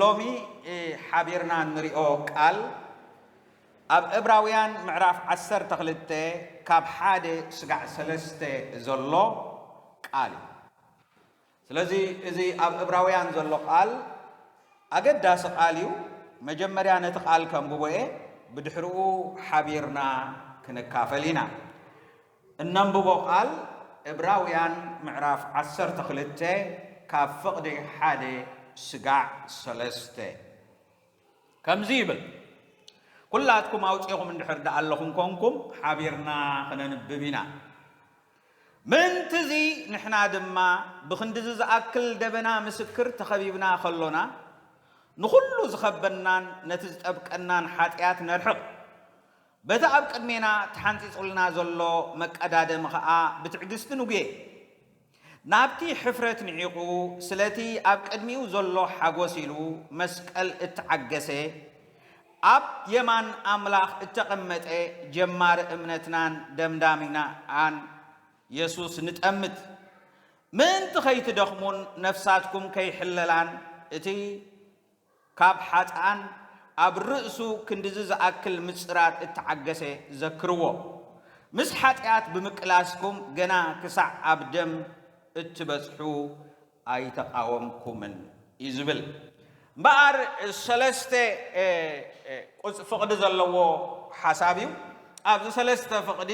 ሎሚ ሓቢርና እንሪኦ ቃል ኣብ እብራውያን ምዕራፍ ዓሰርተ ክልተ ካብ ሓደ ስጋዕ ሰለስተ ዘሎ ቃል እዩ። ስለዚ እዚ ኣብ እብራውያን ዘሎ ቓል ኣገዳሲ ቓል እዩ። መጀመርያ ነቲ ቓል ከንብቦ እየ፣ ብድሕርኡ ሓቢርና ክንካፈል ኢና። እነንብቦ ቓል እብራውያን ምዕራፍ ዓሰርተ ክልተ ካብ ፍቕዲ ሓደ ስጋዕ ሰለስተ ከምዚ ይብል፣ ኩላትኩም ኣውጺኹም እንድሕር ደኣለኹም ኰንኩም ሓቢርና ክነንብብ ኢና። ምእንት'ዚ ንሕና ድማ ብኽንድዚ ዝኣክል ደበና ምስክር ተኸቢብና ከሎና፣ ንኹሉ ዝኸበናን ነቲ ዝጠብቀናን ሓጥያት ነርሕቕ። በቲ ኣብ ቅድሜና ተሓንጺጹልና ዘሎ መቀዳደሚ ከኣ ብትዕግስቲ ንጉየ። ናብቲ ሕፍረት ንዒቑ ስለቲ ኣብ ቅድሚኡ ዘሎ ሓጎስ ኢሉ መስቀል እተዓገሰ፣ ኣብ የማን ኣምላኽ እተቐመጠ ጀማሪ እምነትናን ደምዳሚናን የሱስ ንጠምት። ምእንቲ ኸይትደኽሙን ነፍሳትኩም ከይሕለላን እቲ ካብ ሓጥኣን ኣብ ርእሱ ክንድዚ ዝኣክል ምጽራር እተዓገሰ ዘክርዎ። ምስ ሓጢኣት ብምቅላስኩም ገና ክሳዕ ኣብ ደም እትበጽሑ ኣይተቓወምኩምን እዩ ዝብል። እምበኣር ሰለስተ ፍቕዲ ዘለዎ ሓሳብ እዩ። ኣብዚ ሰለስተ ፍቕዲ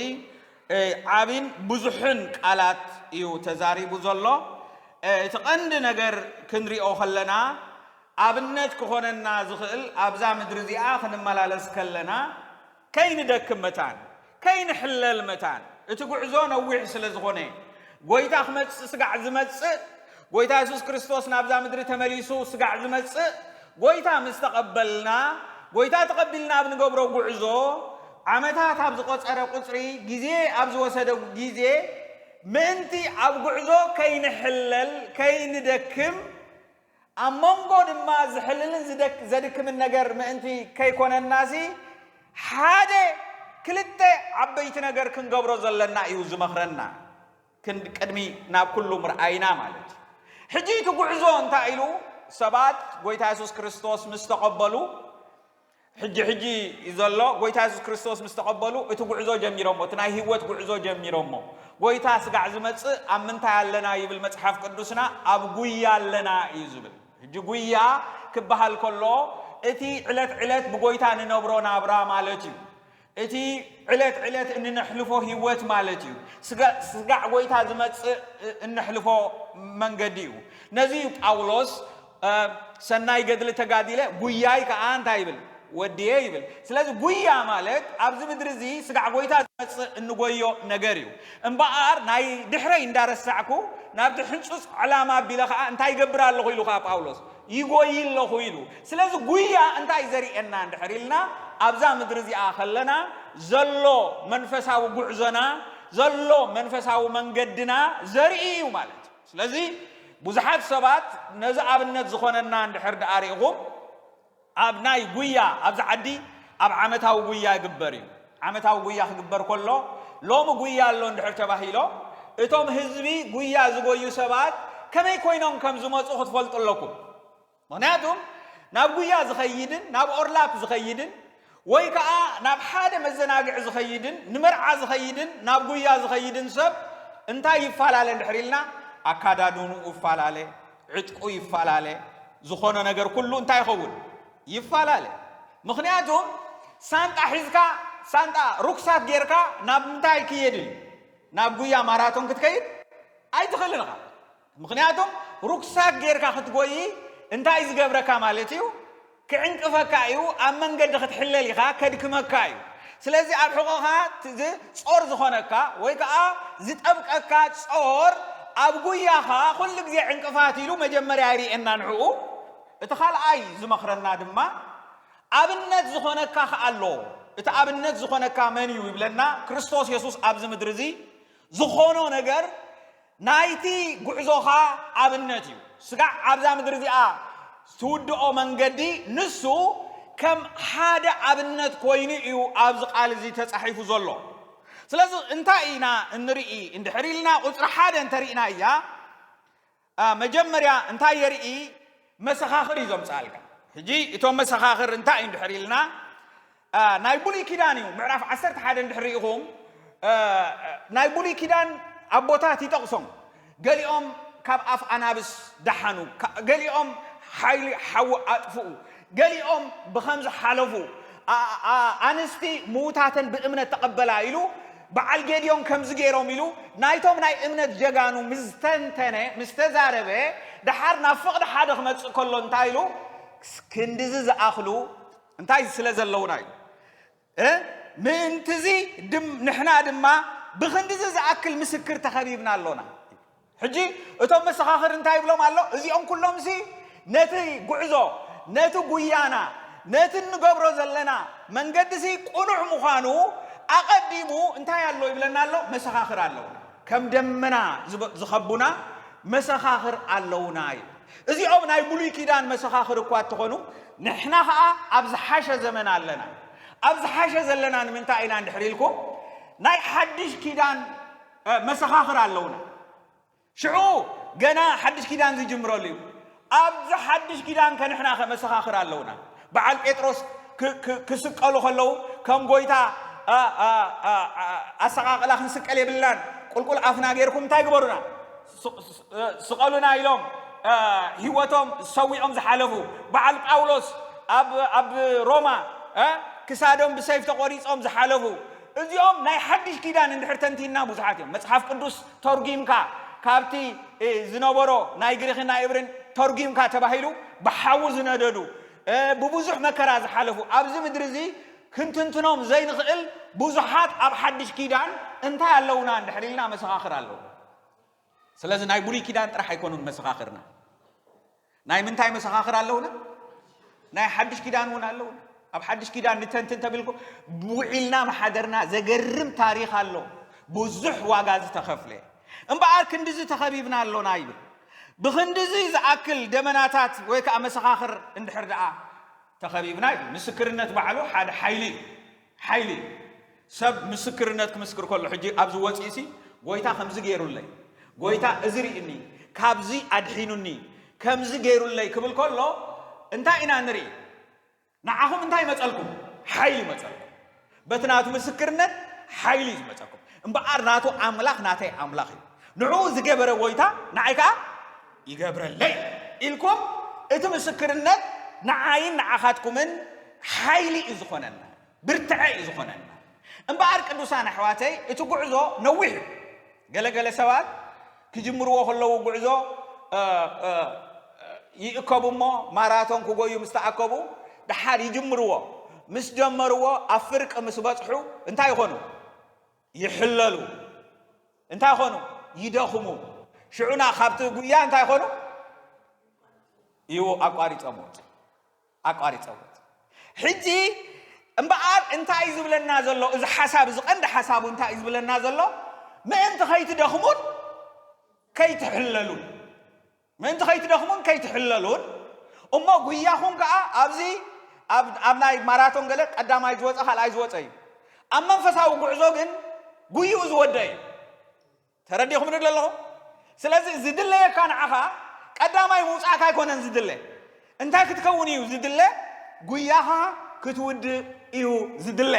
ዓቢን ብዙሕን ቃላት እዩ ተዛሪቡ ዘሎ። እቲ ቀንዲ ነገር ክንሪኦ ከለና ኣብነት ክኾነና ዝኽእል ኣብዛ ምድሪ እዚኣ ክንመላለስ ከለና ከይንደክም መታን ከይንሕለል መታን እቲ ጉዕዞ ነዊሕ ስለ ዝኾነ ጎይታ ክመጽእ ስጋዕ ዝመጽእ ጎይታ የሱስ ክርስቶስ ናብዛ ምድሪ ተመሊሱ ስጋዕ ዝመጽእ ጎይታ ምስ ተቐበልና ጎይታ ተቐቢልና ኣብ ንገብሮ ጉዕዞ ዓመታት ኣብ ዝቆጸረ ቁጽሪ ግዜ ኣብ ዝወሰደ ግዜ ምእንቲ ኣብ ጉዕዞ ከይንሕለል ከይንደክም ኣብ መንጎ ድማ ዝሕልልን ዘድክምን ነገር ምእንቲ ከይኮነናሲ ሓደ ክልተ ዓበይቲ ነገር ክንገብሮ ዘለና እዩ ዝመኽረና ቅድሚ ናብ ኩሉ ምርኣይና ማለት እዩ ሕጂ እቲ ጉዕዞ እንታይ ኢሉ ሰባት ጎይታ የሱስ ክርስቶስ ምስ ተቐበሉ ሕጂ ሕጂ እዩ ዘሎ ጎይታ የሱስ ክርስቶስ ምስ ተቐበሉ እቲ ጉዕዞ ጀሚሮሞ እቲ ናይ ህይወት ጉዕዞ ጀሚሮሞ ጎይታ ስጋዕ ዝመጽእ ኣብ ምንታይ ኣለና ይብል መጽሓፍ ቅዱስና ኣብ ጉያ ኣለና እዩ ዝብል ሕጂ ጉያ ክበሃል ከሎ እቲ ዕለት ዕለት ብጎይታ ንነብሮ ናብራ ማለት እዩ እቲ ዕለት ዕለት እንነሕልፎ ህይወት ማለት እዩ። ስጋዕ ጎይታ ዝመጽእ እነሕልፎ መንገዲ እዩ። ነዚ እዩ ጳውሎስ ሰናይ ገድሊ ተጋዲለ ጉያይ ከዓ እንታይ ይብል ወድየ ይብል። ስለዚ ጉያ ማለት ኣብዚ ምድሪ እዚ ስጋዕ ጎይታ ዝመጽእ እንጎዮ ነገር እዩ። እምበኣር ናይ ድሕረይ እንዳረሳዕኩ ናብቲ ሕንጹጽ ዕላማ ኣቢለ ከዓ እንታይ ይገብር ኣለኹ ኢሉ ከዓ ጳውሎስ ይጎዪ ኣለኹ ኢሉ። ስለዚ ጉያ እንታይ እዩ ዘርእየና እንድሕር ኢልና ኣብዛ ምድሪ እዚኣ ከለና ዘሎ መንፈሳዊ ጉዕዞና ዘሎ መንፈሳዊ መንገድና ዘርኢ እዩ ማለት እዩ። ስለዚ ብዙሓት ሰባት ነዚ ኣብነት ዝኾነና እንድሕር ደኣ ሪኢኹም ኣብ ናይ ጉያ ኣብዚ ዓዲ ኣብ ዓመታዊ ጉያ ይግበር እዩ። ዓመታዊ ጉያ ክግበር ከሎ ሎሚ ጉያ ኣሎ እንድሕር ተባሂሎ እቶም ህዝቢ ጉያ ዝጎዩ ሰባት ከመይ ኮይኖም ከም ዝመፁ ክትፈልጡ ኣለኩም። ምክንያቱ ናብ ጉያ ዝኸይድን ናብ ኦርላፕ ዝኸይድን ወይ ከዓ ናብ ሓደ መዘናግዒ ዝኸይድን ንመርዓ ዝኸይድን ናብ ጉያ ዝኸይድን ሰብ እንታይ ይፈላለ እንድሕር ኢልና ኣካዳድንኡ ይፈላለ፣ ዕጥቁ ይፈላለ፣ ዝኾነ ነገር ኩሉ እንታይ ይኸውን ይፋላለ ምክንያቱ ሳንጣ ሒዝካ ሳንጣ ሩክሳት ጌርካ ናብ ምንታይ ክየድን እዩ ናብ ጉያ ማራቶን ክትከይድ ኣይትኽእልን ኢኻ ምክንያቱ ሩክሳት ጌርካ ክትጎይ እንታይ ዝገብረካ ማለት እዩ ክዕንቅፈካ እዩ ኣብ መንገዲ ክትሕለል ኢኻ ከድክመካ እዩ ስለዚ ኣብ ሕቆኻ ጾር ዝኾነካ ወይ ከዓ ዝጠብቀካ ጾር ኣብ ጉያኻ ኩሉ ግዜ ዕንቅፋት ኢሉ መጀመርያ ይርኤና ንዕኡ እቲ ካልኣይ ዝመኽረና ድማ ኣብነት ዝኾነካ ከኣ ኣሎ። እቲ ኣብነት ዝኾነካ መን እዩ ይብለና፣ ክርስቶስ የሱስ ኣብዚ ምድሪ እዚ ዝኾኖ ነገር ናይቲ ጉዕዞኻ ኣብነት እዩ። ስጋዕ ኣብዛ ምድሪ እዚኣ ትውድኦ መንገዲ ንሱ ከም ሓደ ኣብነት ኮይኑ እዩ ኣብዚ ቃል እዚ ተጻሒፉ ዘሎ። ስለዚ እንታይ ኢና እንርኢ እንድሕር ኢልና ቁጽሪ ሓደ እንተሪእናያ መጀመርያ እንታይ የርኢ መሰኻኽር እዩ ዘምጽኣልካ። ሕጂ እቶም መሰኻኽር እንታይ እዩ እንድሕር ኢልና ናይ ብሉይ ኪዳን እዩ ምዕራፍ ዓሰርተ ሓደ እንድሕር ርኢኹም ናይ ብሉይ ኪዳን ኣቦታት ይጠቕሶም ገሊኦም ካብ ኣፍ ኣናብስ ደሓኑ ገሊኦም ሓይሊ ሓዊ ኣጥፍኡ ገሊኦም ብኸምዚ ሓለፉ። ኣንስቲ ምዉታተን ብእምነት ተቐበላ ኢሉ በዓል ጌድዮን ከምዚ ገይሮም ኢሉ ናይቶም ናይ እምነት ጀጋኑ ምስ ዝተንተነ ምስ ተዛረበ ደሓር ናብ ፍቕዲ ሓደ ክመጽእ ከሎ እንታይ ኢሉ ክንድዚ ዝኣኽሉ እንታይ ስለ ዘለዉና ኢሉ ምእንት'ዚ ንሕና ድማ ብኽንድዚ ዝኣክል ምስክር ተኸቢብና ኣሎና። ሕጂ እቶም መሰኻኽር እንታይ ይብሎም ኣሎ? እዚኦም ኩሎምሲ ነቲ ጉዕዞ፣ ነቲ ጉያና፣ ነቲ እንገብሮ ዘለና መንገዲሲ ቅኑዕ ምዃኑ ኣቐዲሙ እንታይ ኣሎ ይብለና ኣሎ? መሰኻኽር ኣለዉና። ከም ደመና ዝኸቡና መሰኻኽር ኣለዉና ይብል። እዚኦም ናይ ብሉይ ኪዳን መሰኻኽር እኳ እተኾኑ ንሕና ኸኣ ኣብ ዝሓሸ ዘመን ኣለና። ኣብ ዝሓሸ ዘለና ንምንታይ ኢና እንድሕሪ ኢልኩም ናይ ሓድሽ ኪዳን መሰኻኽር ኣለውና። ሽዑ ገና ሓድሽ ኪዳን ዝጅምረሉ እዩ። ኣብዚ ሓድሽ ኪዳን ከንሕና ከመሰኻኽር ኣለውና። በዓል ጴጥሮስ ክስቀሉ ከለዉ ከም ጎይታ ኣሰቃቅላ ክንስቀል የብልናን ቁልቁል ኣፍና ጌርኩም እንታይ ግበሩና ስቐሉና ኢሎም ህይወቶም ሰዊኦም ዝሓለፉ በዓል ጳውሎስ ኣብ ሮማ ክሳዶም ብሰይፍ ተቖሪጾም ዝሓለፉ እዚኦም ናይ ሓድሽ ኪዳን እንድሕር ተንቲንና ብዙሓት እዮም መጽሓፍ ቅዱስ ተርጒምካ ካብቲ ዝነበሮ ናይ ግሪኽን ናይ እብርን ተርጒምካ ተባሂሉ ብሓዊ ዝነደዱ ብብዙሕ መከራ ዝሓለፉ ኣብዚ ምድሪ እዚ ክንትንትኖም ዘይንኽእል ብዙሓት ኣብ ሓድሽ ኪዳን እንታይ ኣለውና እንድሕር ኢልና መሰኻኽር ኣለዉ ስለዚ ናይ ብሉይ ኪዳን ጥራሕ ኣይኮኑን መሰኻኽርና። ናይ ምንታይ መሰኻኽር ኣለውና? ናይ ሓድሽ ኪዳን እውን ኣለውና። ኣብ ሓድሽ ኪዳን ንተንትን ተብልኩ ብውዒልና መሓደርና ዘገርም ታሪኽ ኣሎ ብዙሕ ዋጋ ዝተኸፍለ እምበኣር ክንዲዚ ተኸቢብና ኣሎና ይብል ብክንዲዚ ዝኣክል ደመናታት ወይ ከዓ መሰኻኽር እንድሕር ደኣ ተኸቢብና እዩ ምስክርነት ባዕሉ ሓደ ሓይሊ እዩ ሓይሊ እዩ ሰብ ምስክርነት ክምስክር ከሎ ሕጂ ኣብዚ ወጺኡሲ ጎይታ ከምዚ ገይሩለይ ጎይታ እዚ ርኢኒ ካብዚ ኣድሒኑኒ ከምዚ ገይሩለይ ክብል ከሎ እንታይ ኢና ንርኢ ንዓኹም እንታይ ይመጸልኩም ሓይሊ ይመጸልኩም በቲ ናቱ ምስክርነት ሓይሊ እዩ ዝመጸኩም እምበኣር ናቱ ኣምላኽ ናተይ ኣምላኽ እዩ ንዕኡ ዝገበረ ጎይታ ንዓይ ከዓ ይገብረለይ ኢልኩም እቲ ምስክርነት ንዓይን ንዓኻትኩምን ሓይሊ እዩ ዝኾነና ብርትዐ እዩ ዝኾነና። እምበኣር ቅዱሳን ኣሕዋተይ እቲ ጉዕዞ ነዊሕ እዩ። ገለ ገለ ሰባት ክጅምርዎ ከለዉ ጉዕዞ ይእከቡ እሞ ማራቶን ክጎዩ ምስ ተኣከቡ ደሓር ይጅምርዎ። ምስ ጀመርዎ ኣብ ፍርቂ ምስ በጽሑ እንታይ ይኾኑ? ይሕለሉ። እንታይ ይኾኑ? ይደኽሙ። ሽዑና ካብቲ ጉያ እንታይ ይኾኑ? ይዎ ኣቋሪጾም ወጹ። ኣቋሪጸዎት ሕጂ እምበኣር እንታይ እዩ ዝብለና ዘሎ እዚ ሓሳብ እዚ ቀንዲ ሓሳቡ እንታይ እዩ ዝብለና ዘሎ ምእንቲ ከይትደኽሙን ከይትሕለሉን ምእንቲ ከይትደኽሙን ከይትሕለሉን እሞ ጉያኹም ከዓ ኣብዚ ኣብ ናይ ማራቶን ገለ ቀዳማይ ዝወፀ ካልኣይ ዝወፀ እዩ ኣብ መንፈሳዊ ጉዕዞ ግን ጉይኡ ዝወደ እዩ ተረዲኹምኒ ዶ ኣለኹም? ስለዚ ዝድለየካ ንዓኻ ቀዳማይ ምውጻእካ ኣይኮነን ዝድለ። እንታይ ክትከውን እዩ ዝድለ? ጉያኻ ክትውድእ እዩ ዝድለ።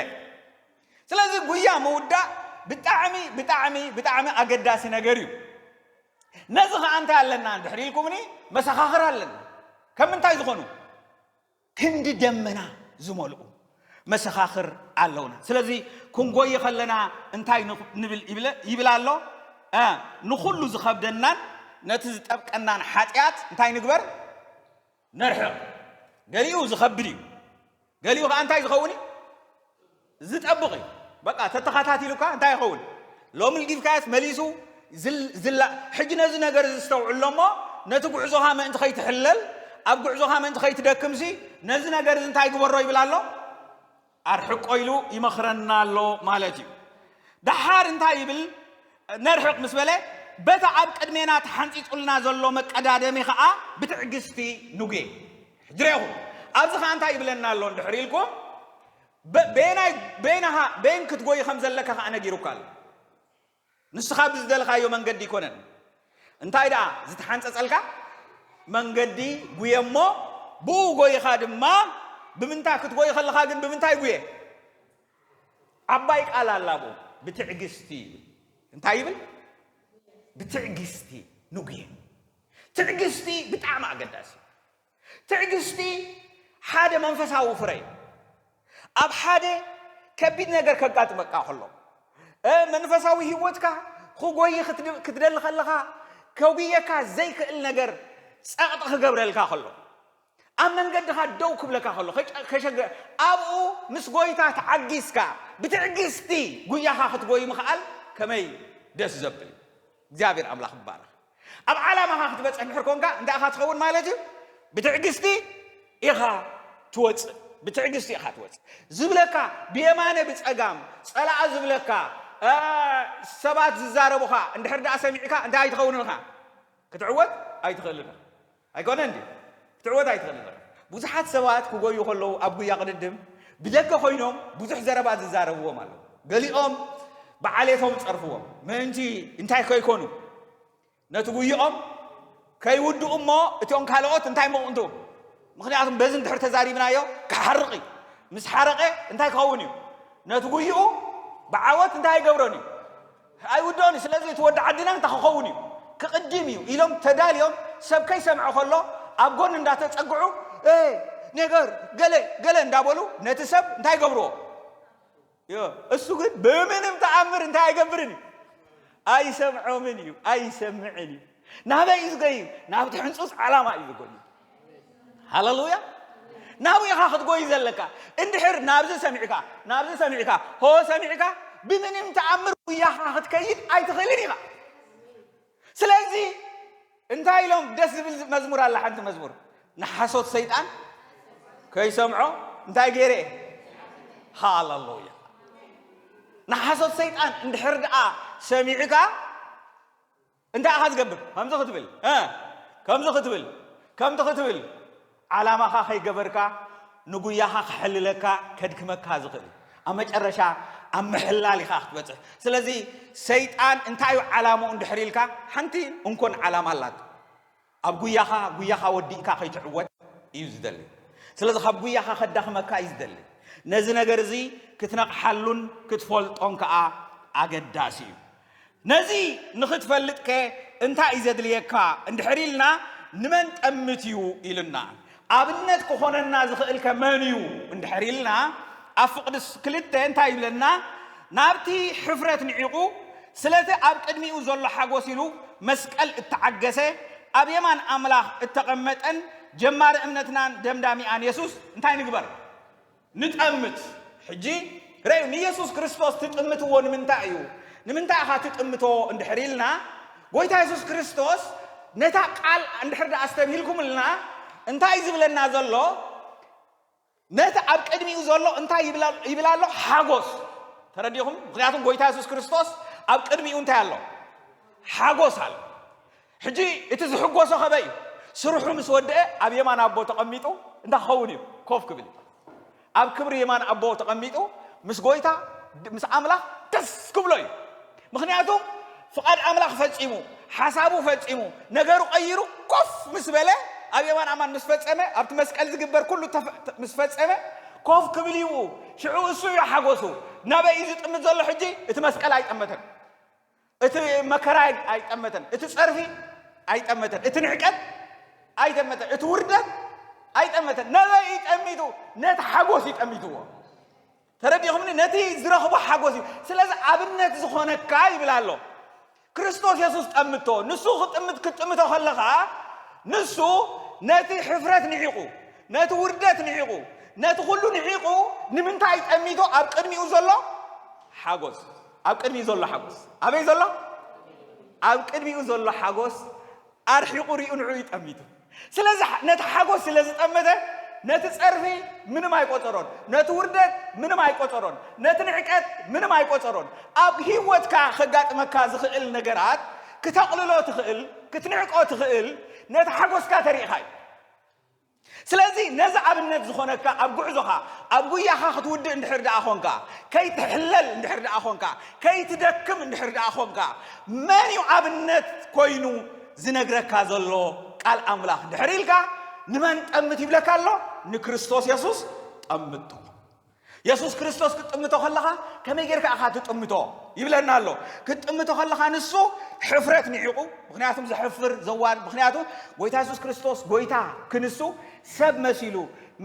ስለዚ ጉያ ምውዳእ ብጣዕሚ ብጣዕሚ ብጣዕሚ ኣገዳሲ ነገር እዩ። ነዚ ኸዓ እንታይ ኣለና እንድሕር ኢልኩምኒ መሰኻኽር ኣለና። ከም ምንታይ ዝኾኑ? ክንዲ ደመና ዝመልኡ መሰኻኽር ኣለውና። ስለዚ ክንጎይ ከለና እንታይ ንብል ይብል ኣሎ? ንኹሉ ዝኸብደናን ነቲ ዝጠብቀናን ሓጢኣት እንታይ ንግበር? ነርሕቕ። ገሊኡ ዝኸብድ እዩ፣ ገሊኡ ከዓ እንታይ ዝኸውን እዩ? ዝጠብቕ እዩ በቃ ተተኻታቲሉካ እንታይ ይኸውን ሎሚ ልጊብካያስ መሊሱ ዝላ ሕጂ ነዚ ነገር እዚ ዝተውዕሎ እሞ ነቲ ጉዕዞኻ ምእንቲ ከይትሕለል ኣብ ጉዕዞኻ ምእንቲ ከይትደክምሲ ነዚ ነገር እዚ እንታይ ግበሮ ይብል ኣሎ ኣርሕቆ ኢሉ ይመኽረና ኣሎ ማለት እዩ ደሓር እንታይ ይብል ነርሕቅ ምስ በለ በታ ኣብ ቅድሜና ተሓንፂፁልና ዘሎ መቀዳደሚ ከዓ ብትዕግስቲ ንጉየ ሕጂ ሬኹም ኣብዚ ከዓ እንታይ ይብለና ኣሎ እንድሕር ኢልኩም በ በየናይ በይናኻ በይን ክትጎይ ከም ዘለካ ከኣ ነጊሩካ ኣሎ። ንስኻ ብዝደለኻዮ መንገዲ ኣይኮነን እንታይ ደኣ ዝተሓንጸጸልካ መንገዲ ጉየ እሞ ብኡ ጎይኻ ድማ ብምንታይ ክትጎይ ከለኻ ግን ብምንታይ ጉየ ዓባይ ቃል ኣላ ብኡ ብትዕግስቲ ይብል እንታይ ይብል ብትዕግስቲ ንጉየ ትዕግስቲ ብጣዕሚ ኣገዳሲ ትዕግስቲ ሓደ መንፈሳዊ ፍረ እዩ። ኣብ ሓደ ከቢድ ነገር ከጋጥመካ ከሎ መንፈሳዊ ህይወትካ ክጎይ ክትደሊ ከለኻ ከጉየካ ዘይክእል ነገር ጸቕጢ ክገብረልካ ከሎ ኣብ መንገድኻ ደው ክብለካ ከሎ ከሸገ ኣብኡ ምስ ጎይታ ተዓጊስካ ብትዕግስቲ ጉያኻ ክትጎይ ምኽኣል ከመይ ደስ ዘብል እዩ እግዚኣብሔር ኣምላኽ ይባረኽ ኣብ ዓላማኻ ክትበጽሕ እንድሕር ኮንካ እንታይ ኢኻ ትኸውን ማለት እዩ? ብትዕግስቲ ኢኻ ትወጽእ ብትዕግስቲ ኢኻ ትወጽእ። ዝብለካ ብየማነ ብጸጋም ጸላኣ ዝብለካ ሰባት ዝዛረቡኻ እንድሕር ደኣ ሰሚዕካ እንታይ ኣይትኸውንን ኢኻ? ክትዕወት ኣይትኽእልን ኢኻ። ኣይኮነን ድዩ? ክትዕወት ኣይትኽእልን ኢኻ። ብዙሓት ሰባት ክጎዩ ከለዉ ኣብ ጉያ ቅድድም ብደገ ኮይኖም ብዙሕ ዘረባ ዝዛረብዎም ኣለዉ። ገሊኦም ብዓሌቶም ጸርፍዎም ምእንቲ እንታይ ከይኮኑ ነቲ ጉይኦም ከይውድኡ እሞ እቶም ካልኦት እንታይ ምቕንቱ ምክንያቱም በዚ እንድሕር ተዛሪብናዮ ክሓርቕ እዩ ምስ ሓረቐ እንታይ ክኸውን እዩ ነቲ ጉይኡ ብዓወት እንታይ ኣይገብሮን እዩ ኣይውድኦን እዩ ስለዚ እቲ ወዲ ዓድና እንታይ ክኸውን እዩ ክቕዲም እዩ ኢሎም ተዳልዮም ሰብ ከይሰምዐ ከሎ ኣብ ጎኒ እንዳተጸግዑ ኤህ ነገር ገለ ገለ እንዳበሉ ነቲ ሰብ እንታይ ይገብርዎ ዮ እሱ ግን ብምንም ተኣምር እንታይ ኣይገብርን እዩ ኣይሰምዖምን እዩ ኣይሰምዕን እዩ ናበይ እዩ ዝገዩ ናብቲ ሕንጹጽ ዓላማ እዩ ዝጎዩ ሃለሉያ ናብኡ ኢኻ ክትጎይ ዘለካ እንድሕር ናብዚ ሰሚዕካ ናብዚ ሰሚዕካ ሆ ሰሚዕካ ብምንም ተኣምር ጉያኻ ክትከይድ ኣይትኽእልን ኢኻ ስለዚ እንታይ ኢሎም ደስ ዝብል መዝሙር ኣላ ሓንቲ መዝሙር ንሓሶት ሰይጣን ከይሰምዖ እንታይ ገይረ እየ ሃለሉያ ንሓሶት ሰይጣን እንድሕር ደኣ ሰሚዕካ እንታይ ኢኻ ዝገብር ከምዚ ክትብል እ ከምዚ ክትብል ከምቲ ክትብል ዓላማኻ ከይገበርካ ንጉያኻ ከሕልለካ ከድክመካ ዝኽእል ኣብ መጨረሻ ኣብ ምሕላል ኢኻ ክትበጽሕ ስለዚ ሰይጣን እንታይ እዩ ዓላምኡ እንድሕር ኢልካ ሓንቲ እንኮን ዓላማ ኣላት ኣብ ጉያኻ ጉያኻ ወዲእካ ከይትዕወት እዩ ዝደሊ። ስለዚ ካብ ጉያኻ ከዳኽመካ እዩ ዝደሊ። ነዚ ነገር እዚ ክትነቕሓሉን ክትፈልጦን ከኣ ኣገዳሲ እዩ። ነዚ ንኽትፈልጥ ከ እንታይ እዩ ዘድልየካ እንድሕር ኢልና ንመን ጠምት እዩ ኢሉና ኣብነት ክኾነና ዝኽእልከ መን እዩ እንድሕር ኢልና ኣብ ፍቕዲ ክልተ እንታይ ይብለና? ናብቲ ሕፍረት ንዒቑ ስለቲ ኣብ ቅድሚኡ ዘሎ ሓጎስ ኢሉ መስቀል እተዓገሰ ኣብ የማን ኣምላኽ እተቐመጠን ጀማሪ እምነትናን ደምዳሚኣን የሱስ እንታይ ንግበር? ንጠምት። ሕጂ ርኣዩ፣ ንየሱስ ክርስቶስ ትጥምትዎ ንምንታይ እዩ? ንምንታይ ኢኻ ትጥምቶ እንድሕር ኢልና፣ ጐይታ የሱስ ክርስቶስ ነታ ቃል እንድሕር ደኣ ኣስተብሂልኩምልና፣ እንታይ እዩ ዝብለና ዘሎ? ነቲ ኣብ ቅድሚኡ ዘሎ እንታይ ይብል ኣሎ? ሓጐስ። ተረዲኹም? ምኽንያቱም ጐይታ የሱስ ክርስቶስ ኣብ ቅድሚኡ እንታይ ኣሎ? ሓጐስ ኣሎ። ሕጂ እቲ ዝሕጎሶ ከመይ እዩ ስርሑ ምስ ወደኤ ኣብ የማን ኣቦ ተቀሚጡ እንታይ ክኸውን እዩ ኮፍ ክብል እዩ ኣብ ክብሪ የማን ኣቦ ተቀሚጡ ምስ ጎይታ ምስ ኣምላኽ ደስ ክብሎ እዩ ምክንያቱ ፍቃድ ኣምላኽ ፈጺሙ ሓሳቡ ፈጺሙ ነገሩ ቀይሩ ኮፍ ምስ በለ ኣብ የማን ኣማን ምስ ፈጸመ ኣብቲ መስቀል ዝግበር ኩሉ ምስ ፈጸመ ኮፍ ክብል እዩ ሽዑ እሱ እዩ ሓጎሱ ናበይ እዩ ዝጥምት ዘሎ ሕጂ እቲ መስቀል ኣይጠመተን እቲ መከራ ኣይ- ኣይጠመተን፣ እቲ ጸርፊ ኣይጠመተን፣ እቲ ንዕቀት ኣይጠመተን፣ እቲ ውርደት ኣይጠመተን። ነበይ እዩ ጠሚቱ፣ ነቲ ሓጎስ እዩ ጠሚትዎ። ተረዲኹምኒ? ነቲ ዝረኽቦ ሓጎስ እዩ። ስለዚ ኣብነት ዝኾነካ ይብል ኣሎ ክርስቶስ የሱስ ጠምቶ። ንሱ ክጥምት ክትጥምቶ ከለኻ ንሱ ነቲ ሕፍረት ንዒቑ፣ ነቲ ውርደት ንዒቑ፣ ነቲ ኩሉ ንዒቑ ንምንታይ ጠሚቶ ኣብ ቅድሚኡ ዘሎ ሓጎስ ኣብ ቅድሚኡ ዘሎ ሓጎስ ኣበይ ዘሎ ኣብ ቅድሚኡ ዘሎ ሓጎስ ኣርሒቑ ሪኡ ንዑ ይጠሚቱ ስለዚ ነቲ ሓጎስ ስለ ዝጠመተ ነቲ ጸርፊ ምንም ኣይቆጸሮን ነቲ ውርደት ምንም ኣይቆጸሮን ነቲ ንዕቀት ምንም ኣይቆጸሮን ኣብ ህይወትካ ከጋጥመካ ዝኽእል ነገራት ክተቕልሎ ትኽእል ክትንዕቆ ትኽእል ነቲ ሓጎስካ ተሪእኻ እዩ ስለዚ ነዚ ኣብነት ዝኾነካ ኣብ ጉዕዞኻ ኣብ ጉያኻ ክትውድእ እንድሕር ደኣ ኾንካ ከይትሕለል እንድሕር ደኣ ኾንካ ከይትደክም እንድሕር ደኣ ኾንካ መን እዩ ኣብነት ኮይኑ ዝነግረካ ዘሎ ቃል ኣምላኽ እንድሕር ኢልካ ንመን ጠምት ይብለካ ኣሎ ንክርስቶስ የሱስ ጠምቶ የሱስ ክርስቶስ ክትጥምቶ ከለኻ ከመይ ጌርካ ኢኻ ትጥምቶ ይብለና ኣሎ። ክትጥምቶ ከለኻ ንሱ ሕፍረት ንዒቑ፣ ምኽንያቱም ዘሕፍር ዘዋር ምኽንያቱ ጎይታ የሱስ ክርስቶስ ጎይታ ክንሱ ሰብ መሲሉ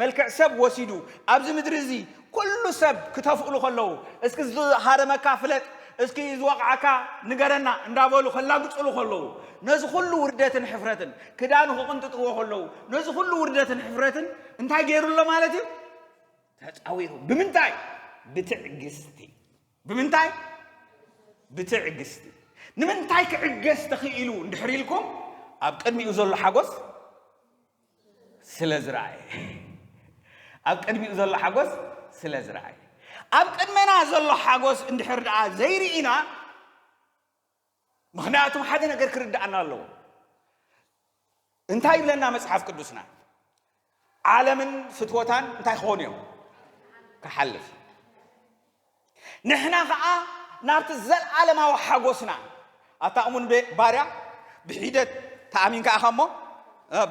መልክዕ ሰብ ወሲዱ ኣብዚ ምድሪ እዚ ኩሉ ሰብ ክተፍእሉ ከለዉ እስኪ ዝሃረመካ ፍለጥ እስኪ ዝወቕዓካ ንገረና እንዳበሉ ከላግፅሉ ከለዉ ነዚ ኩሉ ውርደትን ሕፍረትን ክዳኑ ክቕንጥጥዎ ከለዉ ነዚ ኩሉ ውርደትን ሕፍረትን እንታይ ገይሩ ኣሎ ማለት እዩ ተጻዊሩ ብምንታይ ብትዕግስቲ ብምንታይ ብትዕግስቲ ንምንታይ ክዕገስ ተኽኢሉ እንድሕር ኢልኩም ኣብ ቅድሚኡ ዘሎ ሓጎስ ስለ ዝረኣየ ኣብ ቅድሚኡ ዘሎ ሓጎስ ስለ ዝረኣየ ኣብ ቅድመና ዘሎ ሓጎስ እንድሕር ደኣ ዘይርኢና ምኽንያቱ ሓደ ነገር ክርድኣና ኣለዎ። እንታይ ይብለና መጽሓፍ ቅዱስና? ዓለምን ፍትወታን እንታይ ክኾኑ እዮም? ክሓልፍ። ንሕና ከዓ ናብቲ ዘለዓለማዊ ሓጎስና ኣታ እሙን ባርያ ብሒደት ተኣሚን ከዓ ከሞ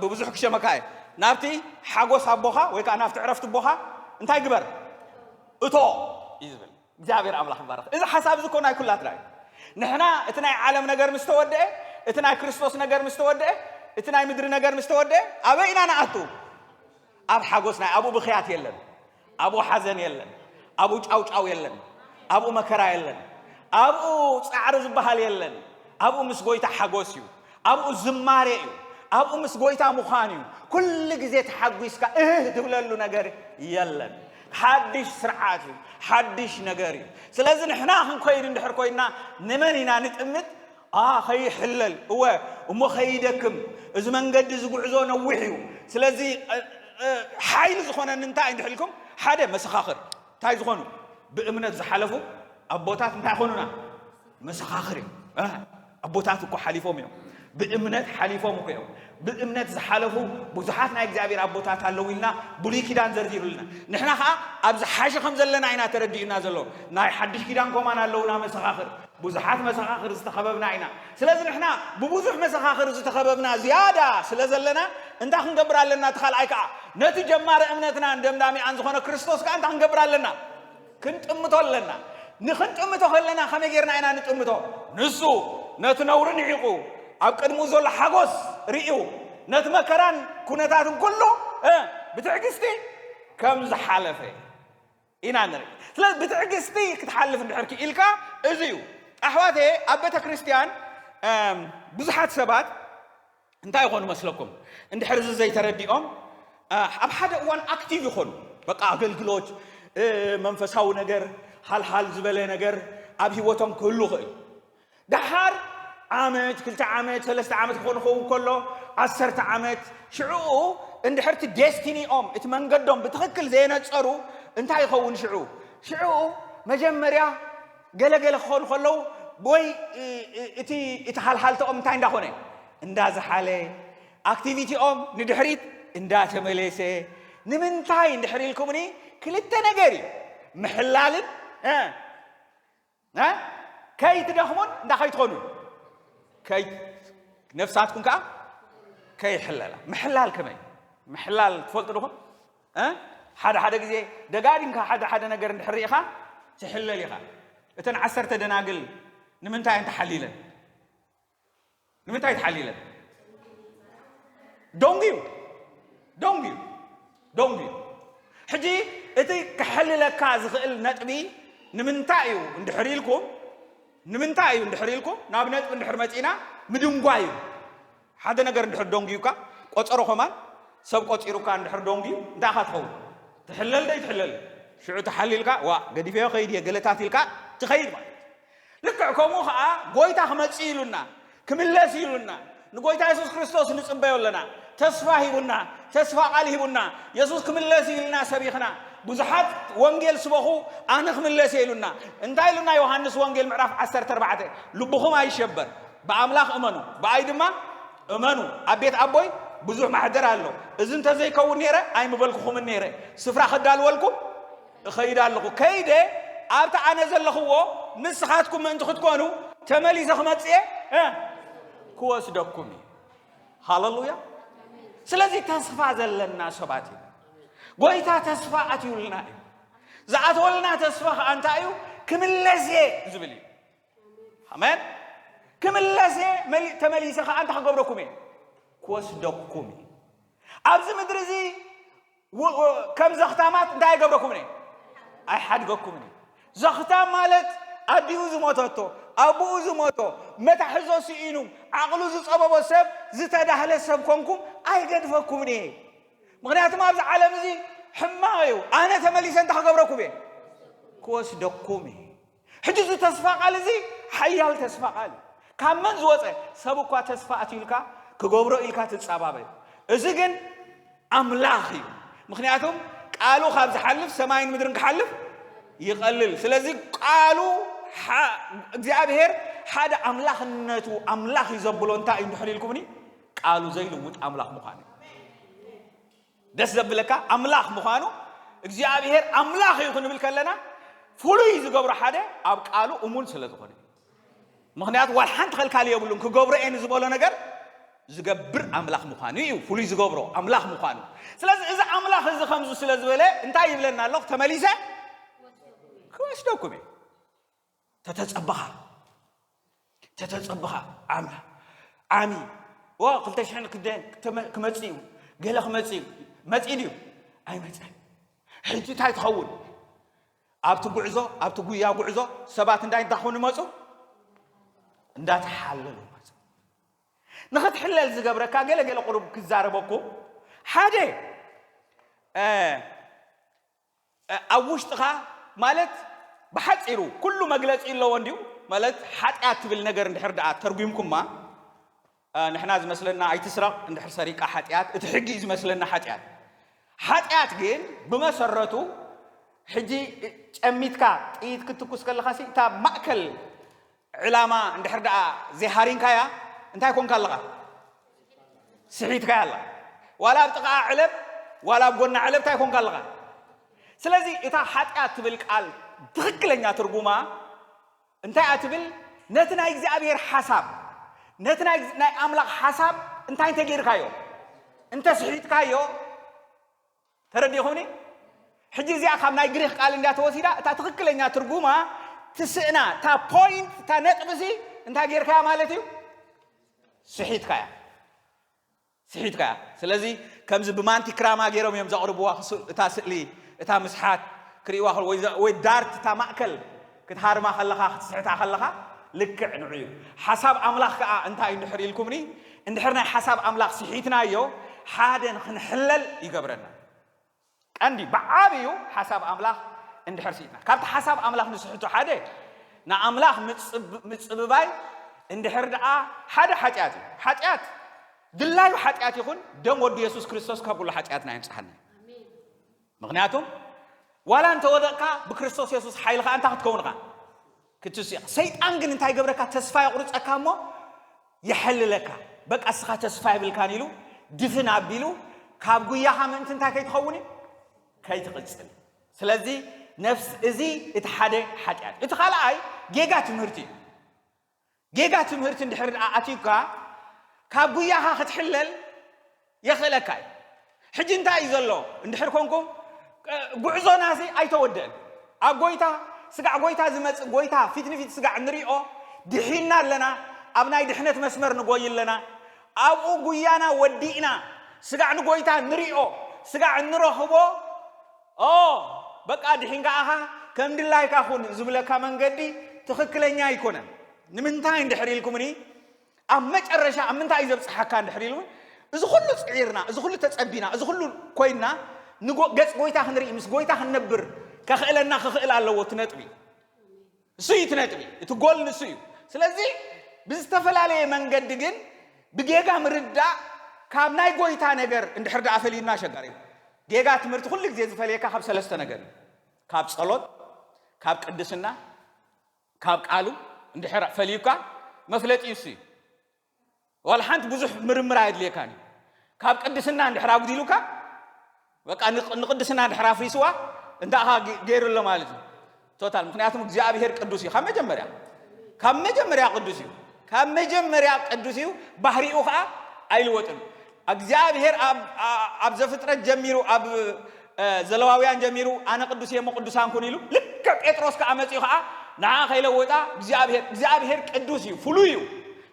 ብብዙሕ ክሸመካ እየ ናብቲ ሓጎስ ኣቦኻ ወይ ከዓ ናብቲ ዕረፍቲ ኣቦኻ እንታይ ግበር እቶ እዩ ዝብል እግዚኣብሔር ኣምላኽ ይባርኽ እዚ ሓሳብ እዚ እኮ ናይ ኩላትና እዩ ንሕና እቲ ናይ ዓለም ነገር ምስ ተወደአ እቲ ናይ ክርስቶስ ነገር ምስ ተወደአ እቲ ናይ ምድሪ ነገር ምስ ተወደአ ኣበይ ኢና ንኣቱ ኣብ ሓጎስ ናይ ኣብኡ ብኽያት የለን ኣብኡ ሓዘን የለን ኣብኡ ጫውጫው የለን ኣብኡ መከራ የለን ኣብኡ ጻዕሪ ዝበሃል የለን ኣብኡ ምስ ጎይታ ሓጎስ እዩ ኣብኡ ዝማሬ እዩ ኣብኡ ምስ ጎይታ ምዃን እዩ ኩሉ ግዜ ተሓጒስካ እህህ ትብለሉ ነገር የለን ሓድሽ ስርዓት እዩ ሓድሽ ነገር እዩ ስለዚ ንሕና ክንኮይድ እንድሕር ኮይና ንመን ኢና ንጥምት ከይሕለል እወ እሞ ከይደክም እዚ መንገዲ እዚ ጉዕዞ ነዊሕ እዩ ስለዚ ሓይሊ ዝኾነኒ እንታይ እንድሕ ኢልኩም ሓደ መሰኻኽር እንታይ ዝኾኑ ብእምነት ዝሓለፉ ኣቦታት እንታይ ኾኑና መሰኻኽር እዮም ኣቦታት እኮ ሓሊፎም እዮም ብእምነት ሓሊፎም እኮ እዮም ብእምነት ዝሓለፉ ብዙሓት ናይ እግዚኣብሔር ኣቦታት ኣለዉ ኢልና ብሉይ ኪዳን ዘርዚሩልና ንሕና ከዓ ኣብዚ ሓሸ ከም ዘለና ኢና ተረዲኡና ዘሎ ናይ ሓድሽ ኪዳን ኮማን ኣለውና መሰኻኽር ብዙሓት መሰኻኽር ዝተኸበብና ኢና ስለዚ ንሕና ብብዙሕ መሰኻኽር ዝተኸበብና ዝያዳ ስለ ዘለና እንታይ ክንገብር ኣለና እቲ ካልኣይ ከዓ ነቲ ጀማሪ እምነትናን ደምዳሚኣን ዝኾነ ክርስቶስ ከዓ እንታይ ክንገብር ኣለና ክንጥምቶ ኣለና። ንኽንጥምቶ ከለና ከመይ ጌርና ኢና ንጥምቶ? ንሱ ነቲ ነውሪ ንዒቑ ኣብ ቅድሚኡ ዘሎ ሓጎስ ርእዩ ነቲ መከራን ኩነታትን ኩሉ ብትዕግስቲ ከም ዝሓለፈ ኢና ንርኢ ስለዚ ብትዕግስቲ ክትሓልፍ እንድሕር ክኢልካ እዚ እዩ ኣሕዋተ ኣብ ቤተ ክርስቲያን ብዙሓት ሰባት እንታይ ይኾኑ መስለኩም እንድሕር እዚ ዘይተረዲኦም ኣብ ሓደ እዋን ኣክቲቭ ይኾኑ በቃ ኣገልግሎት መንፈሳዊ ነገር ሃልሃል ዝበለ ነገር ኣብ ሂወቶም ክህሉ ይኽእል ደሓር ዓመት ክልተ ዓመት ሰለስተ ዓመት ክኾኑ ክኸውን ከሎ ዓሰርተ ዓመት ሽዑኡ እንድሕርቲ ዴስቲኒኦም እቲ መንገዶም ብትኽክል ዘየነፀሩ እንታይ ይኸውን ሽዑ ሽዑ መጀመርያ ገለ ገለ ክኾኑ ከለዉ ወይ እቲ እቲ ሃልሃልተኦም እንታይ እንዳኾነ እንዳዝሓለ ኣክቲቪቲኦም ንድሕሪት እንዳተመለሰ ንምንታይ እንድሕር ኢልኩምኒ ክልተ ነገር እዩ ምሕላልን ከይትደኽሙን እንዳ ከይትኾኑን ነፍሳትኩም ከዓ ከይሕለላ ምሕላል ከመይ ምሕላል ትፈልጡ ድኹም ሓደ ሓደ ግዜ ደጋጊምካ ሓደ ሓደ ነገር እንድሕር ሪኢኻ ትሕለል ኢኻ። እተን ዓሰርተ ደናግል ንምንታይ እየን ተሓሊለን? ንምንታይ ተሓሊለን? ደንጉዩ ደንጉዩ ደንጉዩ። ሕጂ እቲ ክሕልለካ ዝኽእል ነጥቢ ንምንታይ እዩ እንድሕር ኢልኩም ንምንታይ እዩ እንድሕር ኢልኩም ናብ ነጥቢ እንድሕር መጺእና ምድንጓይ እዩ። ሓደ ነገር እንድሕር ዶንጉዩካ ቆጸሮ ከማን ሰብ ቆጺሩካ እንድሕር ዶንጉዩ እንታይ ኢኻ ትኸውን ትሕለል ዶ ኣይትሕለልን ሽዑ ተሓሊልካ ዋእ ገዲፈዮ ክኸይድ እየ ገለታት ኢልካ ትኸይድ ማለት እዩ ልክዕ ከምኡ ኸኣ ጎይታ ክመጽእ ኢሉና ክምለስ ኢሉና ንጎይታ የሱስ ክርስቶስ ንጽበዮ ኣለና ተስፋ ሂቡና ተስፋ ቃል ሂቡና የሱስ ክምለስ ኢልና ሰቢኽና ብዙሓት ወንጌል ስበኹ ኣነ ክምለስ እየ ኢሉና እንታይ ኢሉና ዮሃንስ ወንጌል ምዕራፍ 14 ልብኹም ኣይሸበር ብኣምላኽ እመኑ ብኣይ ድማ እመኑ ኣብ ቤት ኣቦይ ብዙሕ ማሕደር ኣሎ እዚ እንተዘይከውን ነይረ ኣይምበልኩኹምን ነይረ ስፍራ ክዳልወልኩም እኸይድ ኣለኹ ከይደ ኣብቲ ኣነ ዘለኽዎ ንስኻትኩም ምእንቲ ክትኮኑ ተመሊሰ ክመጽእ እየ ክወስደኩም እዩ ሃለሉያ ስለዚ ተስፋ ዘለና ሰባት ኢና ጎይታ ተስፋ ኣትዩልና እዩ ዝኣተወልና ተስፋ ከዓ እንታይ እዩ ክምለስ እየ ዝብል እዩ ኣሜን ክምለስ እየ መሊ- ተመሊሰ ከዓ እንታይ ክገብረኩም እየ ክወስደኩም እየ ኣብዚ ምድሪ እዚ ው- ው- ከም ዘኽታማት እንታይ ኣይገብረኩምን እየ ኣይሓድገኩምን እዩ ዘኽታም ማለት ኣዲኡ ዝሞተቶ ኣቦኡ ዝሞቶ መታሕዞ ስኢኑ ዓቕሉ ዝፀበቦ ሰብ ዝተዳህለ ሰብ ኮንኩም ኣይገድፈኩምን እየ ምክንያቱም ኣብዚ ዓለም እዚ ሕማቕ እዩ ኣነ ተመሊሰ እንታይ ክገብረኩም እየ ክወስደኩም እየ ሕጂ እዚ ተስፋ ቃል እዚ ሓያል ተስፋ ቃል እዩ። ካብ መን ዝወጸ? ሰብ እኳ ተስፋ ኣትዩልካ ክገብሮ ኢልካ ትጻባበ። እዚ ግን ኣምላኽ እዩ። ምክንያቱም ቃሉ ካብ ዝሓልፍ ሰማይን ምድርን ክሓልፍ ይቐልል። ስለዚ ቃሉ እግዚኣብሔር ሓደ ኣምላኽነቱ ኣምላኽ እዩ ዘብሎ እንታይ እዩ እንድሕር ኢልኩምኒ ቃሉ ዘይልውጥ ኣምላኽ ምዃኑ እዩ። ደስ ዘብለካ ኣምላኽ ምዃኑ እግዚኣብሔር ኣምላኽ እዩ ክንብል ከለና ፍሉይ ዝገብሮ ሓደ ኣብ ቃሉ እሙን ስለ ዝኾነ ምክንያቱ ዋል ሓንቲ ከልካሊ የብሉን ክገብሮ እየ ንዝበሎ ነገር ዝገብር ኣምላኽ ምዃኑ እዩ ፍሉይ ዝገብሮ ኣምላኽ ምዃኑ ስለዚ እዚ ኣምላኽ እዚ ከምዚ ስለ ዝበለ እንታይ ይብለና ኣለኹ ተመሊሰ ክወስደኩም እዩ ተተጸብኻ ተተጸብኻ ዓም ዓሚ ወ ክልተ ሽሕን ክደን ክተመ- ክመጽእ እዩ ገለ ክመጽእ እዩ መጽኢ ድዩ ኣይመጸን ሕጂ እንታይ ትኸውን ኣብቲ ጉዕዞ ኣብቲ ጉያ ጉዕዞ ሰባት እንታይ እንታይ ክኾኑ መጹ እንዳተሓለሉ መጹ ንኽትሕለል ዝገብረካ ገለ ገለ ቁሩብ ክዛረበኩ ሓደ እ፣ ኣብ ውሽጥኻ ማለት ብሓጺሩ ኩሉ መግለጺ ኣለዎ እንድዩ ማለት ሓጢኣት ትብል ነገር እንድሕር ደኣ ተርጒምኩማ ንሕና ዝመስለና ኣይትስረቕ እንድሕር ሰሪቃ ሓጢኣት እቲ ሕጊ እዩ ዝመስለና ሓጢኣት ሓጢኣት ግን ብመሰረቱ ሕጂ ጨሚትካ ጥይት ክትኩስ ከለኻሲ እታ ማእከል ዕላማ እንድሕር ደኣ ዘይሃሪምካያ እንታይ ኮንካ ኣለኻ? ስሒትካያ ኣለኻ። ዋላ ኣብ ጥቓኣ ዕለብ ዋላ ኣብ ጎና ዕለብ እንታይ ኮንካ ኣለኻ? ስለዚ እታ ሓጢኣት ትብል ቃል ትኽክለኛ ትርጉማ እንታይ እያ ትብል? ነቲ ናይ እግዚኣብሔር ሓሳብ ነቲ ናይ ኣምላኽ ሓሳብ እንታይ እንተጌርካዮ እንተስሒትካዮ ተረዲኹምኒ? ሕጂ እዚኣ ካብ ናይ ግሪኽ ቃል እንድያ ተወሲዳ፣ እታ ትኽክለኛ ትርጉማ ትስእና፣ እታ ፖይንት፣ እታ ነጥቢሲ እንታይ ጌርካያ ማለት እዩ? ስሒትካያ ስሒትካያ። ስለዚ ከምዚ ብማንቲ ክራማ ገይሮም እዮም ዘቕርብዋ እታ ስእሊ፣ እታ ምስሓት ክርእይዋ ወይ ዳርት እታ ማእከል ክትሃርማ ከለኻ ክትስሕታ ከለኻ ልክዕ ንዑ እዩ። ሓሳብ ኣምላኽ ከኣ እንታይ እዩ እንድሕር ኢልኩምኒ እንድሕር ናይ ሓሳብ ኣምላኽ ስሒትናዮ ሓደ ንክንሕለል ይገብረና። ቀንዲ ብዓብዩ ሓሳብ ኣምላኽ እንድሕር ስሒትና ካብቲ ሓሳብ ኣምላኽ ንስሕቶ ሓደ ንኣምላኽ ምጽብባይ እንድሕር ደኣ ሓደ ሓጢኣት እዩ። ሓጢኣት ድላዩ ሓጢኣት ይኹን ደም ወዱ የሱስ ክርስቶስ ካብ ኩሉ ሓጢኣትና የንጽሃልና እዩ። ምኽንያቱ ዋላ እንተ ወደቕካ ብክርስቶስ የሱስ ሓይሊ ኸኣ እንታይ ክትከውን ኢኻ? ክትስኡ ኢኻ። ሰይጣን ግን እንታይ ይገብረካ? ተስፋ የቑርጸካ እሞ የሐልለካ። በቃ እስኻ ተስፋ የብልካን ኢሉ ድፍን ኣቢሉ ካብ ጉያኻ ምእንቲ እንታይ ከይትኸውን እዩ? ከይትቕጽል እዩ። ስለዚ ነፍስ እዚ እቲ ሓደ ሓጢኣት እዩ። እቲ ካልኣይ ጌጋ ትምህርቲ እዩ። ጌጋ ትምህርቲ እንድሕር ድኣ ኣትዩካ ካብ ጉያኻ ክትሕለል የኽእለካ እዩ። ሕጂ እንታይ እዩ ዘሎ እንድሕር ኮንኩም ጉዕዞና እዚ ኣይተወድእን ኣብ ጎይታ ስጋዕ ጎይታ ዝመጽእ ጎይታ ፊት ንፊት ስጋዕ ንሪኦ ድሒና ኣለና ኣብ ናይ ድሕነት መስመር ንጎይ ኣለና ኣብኡ ጉያና ወዲእና ስጋዕ ንጎይታ ንሪኦ ስጋዕ እንረኽቦ ኦው በቃ ድሒንካ ኣኻ ከም ድላይካ ኹን ዝብለካ መንገዲ ትኽክለኛ ኣይኮነን። ንምንታይ እንድሕር ኢልኩምኒ ኣብ መጨረሻ ኣብ ምንታይ እዩ ዘብጽሓካ እንድሕር ኢልኩ እዚ ኹሉ ጽዒርና እዚ ኹሉ ተጸቢና እዚ ኹሉ ኮይና ገጽ ጎይታ ክንርኢ ምስ ጎይታ ክንነብር ከኽእለና ክኽእል ኣለዎ እቲ ነጥቢ። ንሱ እዩ እቲ ነጥቢ፣ እቲ ጎል ንሱ እዩ። ስለዚ ብዝተፈላለየ መንገዲ ግን ብጌጋ ምርዳእ ካብ ናይ ጎይታ ነገር እንድሕር ደኣ ፈሊዩና ኣሸጋሪ እዩ። ጌጋ ትምህርቲ ኩሉ ግዜ ዝፈልየካ ካብ ሰለስተ ነገር እዩ። ካብ ጸሎት፣ ካብ ቅድስና፣ ካብ ቃሉ እንድሕር ፈልዩካ መፍለጢኡ እሱ እዩ። ዋላ ሓንቲ ብዙሕ ምርምር ኣየድልየካን እዩ ካብ ቅድስና እንድሕር ኣጉዲሉካ በቃ ንቅድስና እንድሕር ኣፍሪስዋ እንታኻ ገይሩ ኣሎ ማለት እዩ ቶታል ምክንያቱም እግዚኣብሄር ቅዱስ እዩ ካብ መጀመርያ ካብ መጀመርያ ቅዱስ እዩ ካብ መጀመርያ ቅዱስ እዩ ባህሪኡ ከዓ ኣይልወጥን ኣግዚኣብሄር ኣብ ኣብ ዘፍጥረት ጀሚሩ ኣብ ዘለዋውያን ጀሚሩ ኣነ ቅዱስ እየ እሞ ቅዱሳን ኩኑ ኢሉ ልክዕ ጴጥሮስ ከኣ መጺኡ ከኣ ንዓ ከይለወጣ እግዚኣብሄር እግዚኣብሄር ቅዱስ እዩ ፍሉይ እዩ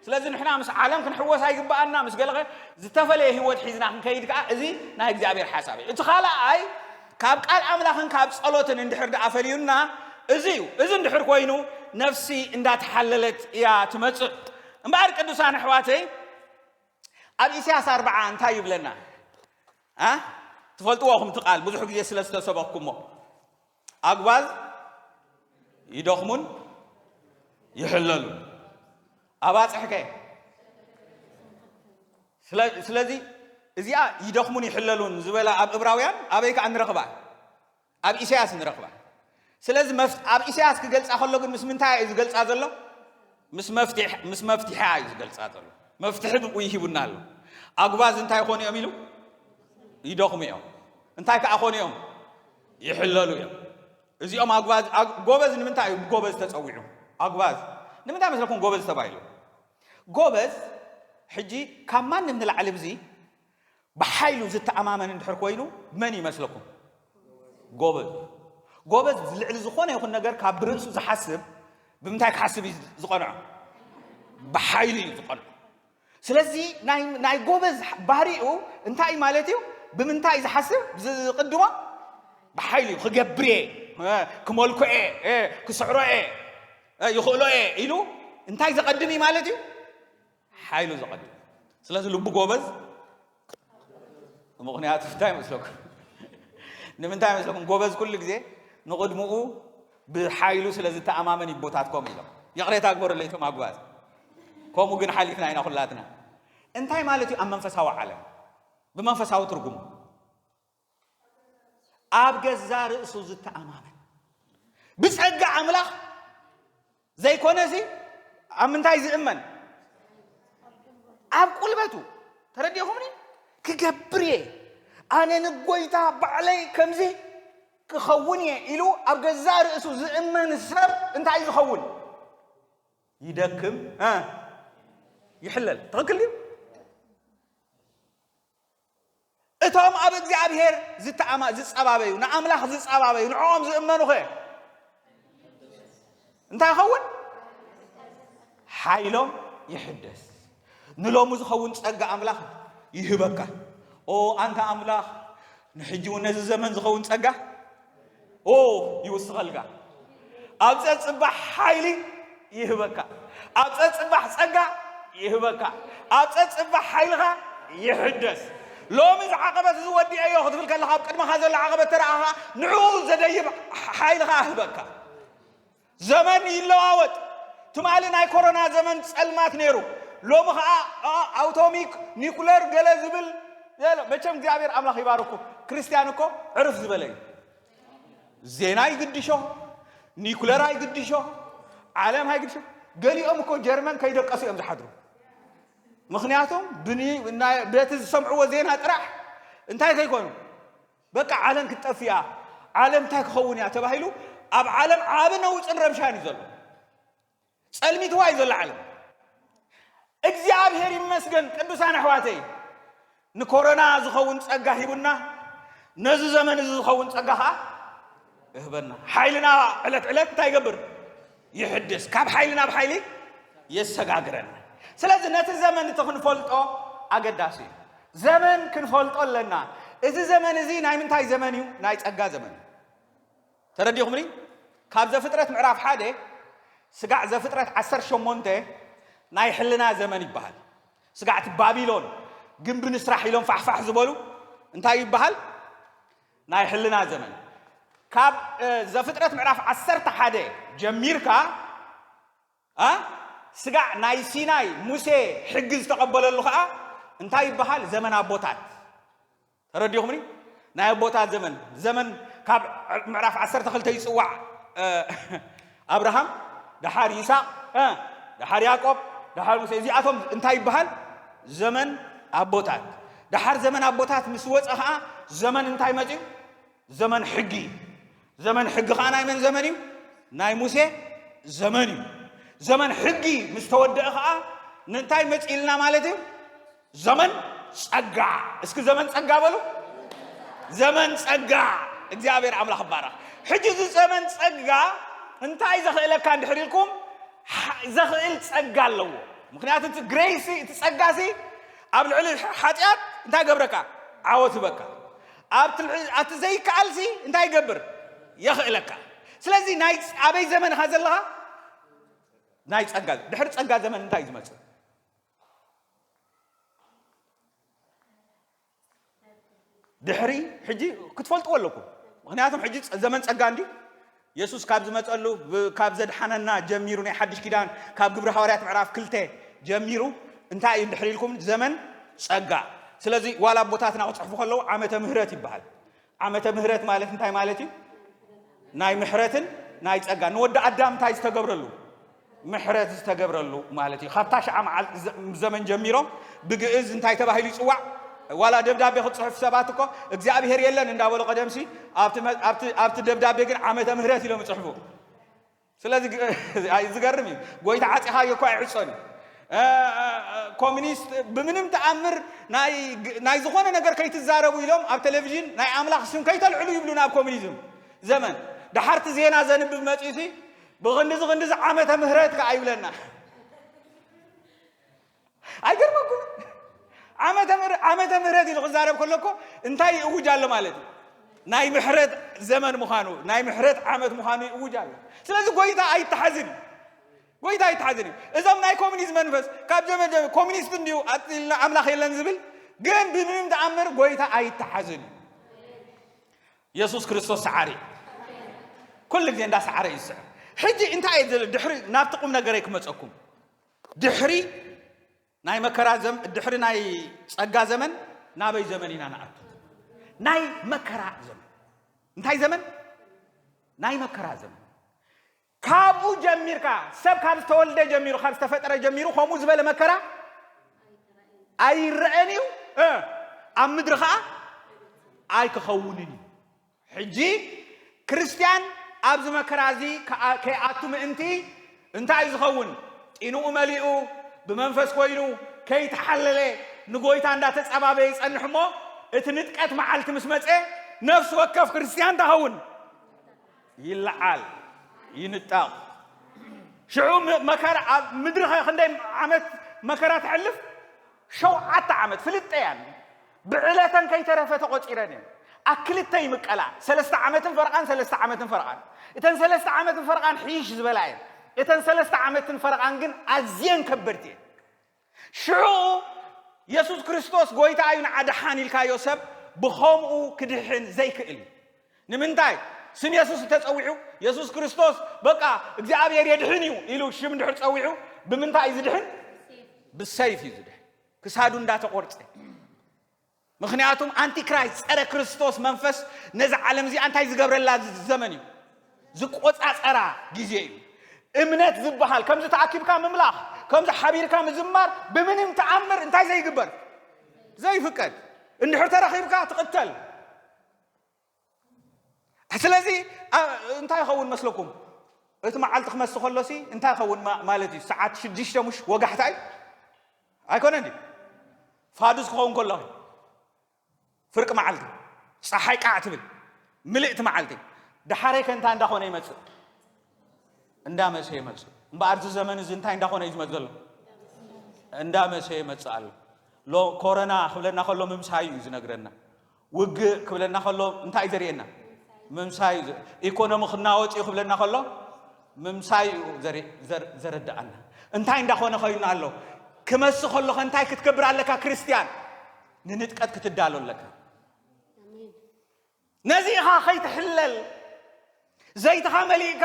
ስለዚ ንሕና ምስ ዓለም ክንሕወስ ኣይግባኣና ምስ ገለኸ ዝተፈለየ ህይወት ሒዝና ክንከይድ ከዓ እዚ ናይ እግዚኣብሔር ሓሳብ እዩ እቲ ካልኣይ ካብ ቃል ኣምላኽን ካብ ጸሎትን እንድሕር ደኣ ፈልዩና እዚ እዩ እዚ እንድሕር ኮይኑ ነፍሲ እንዳተሓለለት እያ ትመጽእ እምበኣር ቅዱሳን ኣሕዋተይ ኣብ ኢሳያስ ኣርብዓ እንታይ ይብለና ኣ ትፈልጥዎ ኹም ትቃል ብዙሕ ግዜ ስለ ዝተሰበኩሞ ኣግባዝ ይደኽሙን ይሕለሉን ኣባፅሕከ ስለዚ እዚኣ ይደኽሙን ይሕለሉን ዝበላ ኣብ እብራውያን ኣበይ ከዓ ንረኽባ ኣብ ኢሰያስ ንረኽባ ስለዚ መፍ ኣብ ኢሰያስ ክገልጻ ከሎ ግን ምስ ምንታይ ኣዩ ዝገልጻ ዘሎ ምስ መፍትሕ ምስ መፍትሒ ኣዩ ዝገልጻ ዘሎ መፍትሒ ብኡ ይሂቡና ኣሎ ኣጉባዝ እንታይ ኮኑ እዮም ኢሉ ይደኽሙ እዮም እንታይ ከኣ ኮኑ እዮም ይሕለሉ እዮም እዚኦም ኣጉባዝ ጎበዝ ንምንታይ እዩ ጎበዝ ተጸዊዑ ኣጉባዝ ንምንታይ መስለኩም ጎበዝ ተባሂሉ ጎበዝ ሕጂ ካብ ማንም ንላዕሊ ብዚ ብሓይሉ ዝተኣማመን እንድሕር ኮይኑ መን ይመስለኩም ጎበዝ እዩ። ጎበዝ ልዕሊ ዝኾነ ይኹን ነገር ካብ ብርእሱ ዝሓስብ ብምንታይ ክሓስብ እዩ ዝቐንዖ? ብሓይሉ እዩ ዝቐንዖ። ስለዚ ናይ ጎበዝ ባህሪኡ እንታይ ማለት እዩ? ብምንታይ ዝሓስብ ዝቕድሞ ብሓይሉ እዩ ክገብር እየ ክመልኮ እየ ክስዕሮ እየ ይኽእሎ እየ ኢሉ እንታይ ዘቐድም እዩ ማለት እዩ? ሓይሉ ዘቐድም ስለዚ ልቡ ጎበዝ ምክንያቱ እንታይ መስለኩም ንምንታይ መስለኩም ጎበዝ ኩሉ ግዜ ንቕድምኡ ብሓይሉ ስለ ዝተኣማመን ይቦታት ከምኡ ኢሎም ይቕሬታ ግበረለይ እቶም ኣጓዝ ከምኡ ግን ሓሊፍና ኢና ኩላትና እንታይ ማለት እዩ ኣብ መንፈሳዊ ዓለም ብመንፈሳዊ ትርጉሙ ኣብ ገዛ ርእሱ ዝተኣማመን ብጸጋ ኣምላኽ ዘይኮነ እዚ ኣብ ምንታይ ዝእመን ኣብ ቁልበቱ ተረዲኹምኒ ክገብር እየ ኣነ ንጎይታ ባዕለይ ከምዚ ክኸውን እየ ኢሉ ኣብ ገዛ ርእሱ ዝእመን ሰብ እንታይ እዩ ዝኸውን ይደክም ይሕለል ትኽክል እዩ እቶም ኣብ እግዚኣብሔር ዝተኣማ ዝጸባበዩ ንኣምላኽ ዝጸባበዩ ንዕኦም ዝእመኑኸ እንታይ ይኸውን? ሓይሎም ይሕደስ። ንሎሚ ዝኸውን ጸጋ ኣምላኽ ይህበካ። ኦ ኣንታ ኣምላኽ ንሕጂ እውን ነዚ ዘመን ዝኸውን ጸጋ ኦ ይውስኸልካ ኣብ ጸጽባሕ ሓይሊ ይህበካ ኣብ ጸጽባሕ ጸጋ ይህበካ ኣብ ጸጽባሕ ሓይልኻ ይሕደስ ሎሚ እዚ ዓቐበት እዚ ወዲአዮ ክትብል ከለኻ ኣብ ቅድመኻ ዘሎ ዓቐበት ተረኣኻ ንዕኡ ዘደይብ ሓይልኻ ኣህበካ ዘመን ይለዋወጥ ትማሊ ናይ ኮሮና ዘመን ጸልማት ነይሩ ሎሚ ከኣ ኣውቶሚክ ኒኩለር ገለ ዝብል መቸም እግዚኣብሔር ኣምላኽ ይባርኩ ክርስቲያን እኮ ዕርፍ ዝበለ እዩ ዜና ይግድሾ ኒኩለር ኣይግድሾ ዓለም ኣይግድሾ ገሊኦም እኮ ጀርመን ከይደቀሱ እዮም ዝሓድሩ ምክንያቱም በቲ ዝሰምዕዎ ዜና ጥራሕ እንታይ ከይኮኑ በቃ ዓለም ክትጠፍእ እያ፣ ዓለም እንታይ ክኸውን እያ ተባሂሉ ኣብ ዓለም ዓቢ ነውጽን ረብሻን እዩ ዘሎ። ጸልሚትዋ እዩ ዘሎ ዓለም። እግዚኣብሔር ይመስገን ቅዱሳን ኣሕዋተይ ንኮሮና ዝኸውን ጸጋ ሂቡና፣ ነዚ ዘመን እዚ ዝኸውን ጸጋ ኸዓ እህበና ሓይልና ዕለት ዕለት እንታይ ይገብር ይሕድስ ካብ ሓይሊ ናብ ሓይሊ የሰጋግረና ስለዚ ነቲ ዘመን እቲ ክንፈልጦ ኣገዳሲ እዩ ዘመን ክንፈልጦ ኣለና እዚ ዘመን እዚ ናይ ምንታይ ዘመን እዩ ናይ ጸጋ ዘመን እዩ ተረዲኹምኒ ካብ ዘፍጥረት ምዕራፍ ሓደ ስጋዕ ዘፍጥረት ዓሰር ሸሞንተ ናይ ሕልና ዘመን ይበሃል ስጋዕቲ ባቢሎን ግንቢ ንስራሕ ኢሎም ፋሕፋሕ ዝበሉ እንታይ ይበሃል ናይ ሕልና ዘመን ካብ ዘፍጥረት ምዕራፍ ዓሰርተ ሓደ ጀሚርካ እ ስጋዕ ናይ ሲናይ ሙሴ ሕጊ ዝተቐበለሉ ከዓ እንታይ ይበሃል ዘመን ኣቦታት ተረዲኹምኒ ናይ ኣቦታት ዘመን ዘመን ካብ ምዕራፍ ዓሰርተ ክልተ ይፅዋዕ ኣብርሃም ደሓር ይስሐቅ እ ደሓር ያቆብ ደሓር ሙሴ እዚኣቶም እንታይ ይበሃል ዘመን ኣቦታት ደሓር ዘመን ኣቦታት ምስ ወፀ ከዓ ዘመን እንታይ መፅኡ ዘመን ሕጊ እዩ ዘመን ሕጊ ከዓ ናይ መን ዘመን እዩ ናይ ሙሴ ዘመን እዩ ዘመን ሕጊ ምስ ተወደአ ከዓ ንእንታይ መፅእልና ማለት እዩ ዘመን ጸጋ እስኪ ዘመን ጸጋ በሉ ዘመን ጸጋ እግዚኣብሔር ኣምላኽ ባረኽ ሕጂ እዚ ዘመን ጸጋ እንታይ ዘኽእለካ እንድሕር ኢልኩም ዘኽእል ጸጋ ኣለዎ ምክንያቱ እቲ ግሬሲ እቲ ጸጋ ሲ ኣብ ልዕሊ ሓጢኣት እንታይ ገብረካ ዓወት ህበካ ኣብቲ ዘይከኣል ሲ እንታይ ይገብር የኽእለካ ስለዚ ናይ ኣበይ ዘመን ኢኻ ዘለኻ ናይ ጸጋ ድሕሪ ጸጋ ዘመን እንታይ እዩ ዝመጽእ ድሕሪ ሕጂ ክትፈልጥዎ ኣለኩም ምክንያቱም ሕጂ ዘመን ጸጋ እንዲ የሱስ ካብ ዝመጸሉ ካብ ዘድሓነና ጀሚሩ ናይ ሓድሽ ኪዳን ካብ ግብሪ ሃዋርያት ምዕራፍ ክልተ ጀሚሩ እንታይ እዩ ድሕሪ ኢልኩም ዘመን ጸጋ ስለዚ ዋላ ኣቦታትና ክጽሕፉ ከለዉ ዓመተ ምህረት ይበሃል ዓመተ ምህረት ማለት እንታይ ማለት እዩ? ናይ ምሕረትን ናይ ጸጋ ንወዲ ኣዳም እንታይ ዝተገብረሉ ምሕረት ዝተገብረሉ ማለት እዩ ካብታ ሽዓ መዓል ዘመን ጀሚሮም ብግእዝ እንታይ ተባሂሉ ይፅዋዕ ዋላ ደብዳቤ ክፅሑፍ ሰባት እኮ እግዚኣብሄር የለን እንዳበሉ ቀደምሲ ኣብቲ ደብዳቤ ግን ዓመተ ምህረት ኢሎም ይፅሕፉ ስለዚ ኣይ ዝገርም እዩ ጎይታ ዓጺኻዮ እኮ ኣይዕጾን እዩ ኮሚኒስት ብምንም ተኣምር ናይ ዝኾነ ነገር ከይትዛረቡ ኢሎም ኣብ ቴሌቪዥን ናይ ኣምላኽ ስም ከይተልዕሉ ይብሉና ኣብ ኮሚኒዝም ዘመን ድሓርቲ ዜና ዘንብብ መፅዩሲ ብክንድዚ ክንድዚ ዓመተ ምህረት ከዓ ይብለና ኣይገርመኩምን? ዓመተ ምህረት ኢሉ ክዛረብ ከሎ እኮ እንታይ ይእውጅ ኣሎ ማለት እዩ? ናይ ምሕረት ዘመን ምዃኑ ናይ ምሕረት ዓመት ምዃኑ ይእውጅ ኣሎ። ስለዚ ጎይታ ኣይተሓዝን እዩ። ጎይታ ኣይተሓዝን እዩ። እዞም ናይ ኮሚኒዝም መንፈስ ካብ ዘመን ዘመን ኮሚኒስት እንዲዩ ኣፅልና ኣምላኽ የለን ዝብል ግን ብምንም ተኣምር ጎይታ ኣይተሓዝን እዩ። የሱስ ክርስቶስ ሰዓሪ እዩ። ኩሉ ግዜ እንዳሰዓረ እዩ ዝስዕር። ሕጂ እንታይ እዩ ድሕሪ ናብቲ ቁም ነገረይ ክመፀኩም ድሕሪ ናይ መከራ ዘመን ድሕሪ ናይ ጸጋ ዘመን ናበይ ዘመን ኢና ንኣቱ? ናይ መከራ ዘመን። እንታይ ዘመን? ናይ መከራ ዘመን። ካብኡ ጀሚርካ ሰብ ካብ ዝተወልደ ጀሚሩ ካብ ዝተፈጠረ ጀሚሩ ከምኡ ዝበለ መከራ ኣይረአን እዩ ኣብ ምድሪ ከዓ ኣይክኸውንን እዩ ሕጂ ክርስትያን ኣብዚ መከራ እዚ ከይኣቱ ምእንቲ እንታይ እዩ ዝኸውን? ጢንኡ መሊኡ፣ ብመንፈስ ኮይኑ፣ ከይተሓለለ ንጎይታ እንዳተጸባበየ ይጸንሕ እሞ እቲ ንጥቀት መዓልቲ ምስ መጸ ነፍሲ ወከፍ ክርስትያን እንታይ ይኸውን? ይለዓል፣ ይንጠቕ። ሽዑ መከራ ኣብ ምድሪ ክንደይ ዓመት መከራ ተሕልፍ? ሸውዓተ ዓመት ፍልጠያን ብዕለተን ከይተረፈ ተቖጺረን እየን። ኣብ ክልተ ይምቀላ፣ ሰለስተ ዓመትን ፈረቓን ሰለስተ ዓመትን ፈረቓን። እተን ሰለስተ ዓመትን ፈረቓን ሕይሽ ዝበላ እየን። እተን ሰለስተ ዓመትን ፈረቓን ግን ኣዝየን ከበድቲ እየን። ሽዑ የሱስ ክርስቶስ ጐይታ እዩ ንዓ ደሓን ኢልካዮ ሰብ ብኸምኡ ክድሕን ዘይክእል እዩ። ንምንታይ ስም የሱስ እንተ ጸዊዑ፣ የሱስ ክርስቶስ በቃ እግዚኣብሔር የድሕን እዩ ኢሉ ሽም እንድሕር ጸዊዑ፣ ብምንታይ እዩ ዝድሕን? ብሰይፍ እዩ ዝድሕን፣ ክሳዱ እንዳተቖርጸ። ምክንያቱም ኣንቲክራይስት ጸረ ክርስቶስ መንፈስ ነዚ ዓለም እዚኣ እንታይ ዝገብረላ ዘመን እዩ ዝቆጻጸራ ግዜ እዩ እምነት ዝበሃል ከምዚ ተኣኪብካ ምምላኽ ከምዚ ሓቢርካ ምዝማር ብምንም ተኣምር እንታይ ዘይግበር ዘይፍቀድ እንድሕር ተረኺብካ ትቕተል ስለዚ እንታይ ይኸውን መስለኩም እቲ መዓልቲ ክመስ ከሎሲ እንታይ ይኸውን ማለት እዩ ሰዓት ሽዱሽተ ሙሽ ወጋሕታ እዩ ኣይኮነን እዩ ፋዱስ ክኸውን ከሎ ፍርቂ መዓልቲ ፀሓይ ቃዕ ትብል ምልእቲ መዓልቲ ድሓረይ ከ እንታይ እንዳኾነ ይመፅእ እንዳመሰ ይመፅእ እምበኣር እዚ ዘመን እዚ እንታይ እንዳኾነ እዩ ዝመፅ ዘሎ እንዳመሰ ይመፅእ ኣሎ ኮረና ክብለና ከሎ ምምሳይ እዩ ዝነግረና ውግእ ክብለና ከሎ እንታይ እዩ ዘርእየና? ምምሳይ እዩ። ኢኮኖሚ ክናወፅ እዩ ክብለና ከሎ ምምሳይ እዩ ዘረድኣና። እንታይ እንዳኾነ ኮይኑ ኣሎ? ክመስ ከሎኸ እንታይ ክትገብር ኣለካ ክርስትያን? ንንጥቀት ክትዳሎ ኣለካ። ነዚ ኢኻ ከይትሕለል ዘይትኻ መሊእካ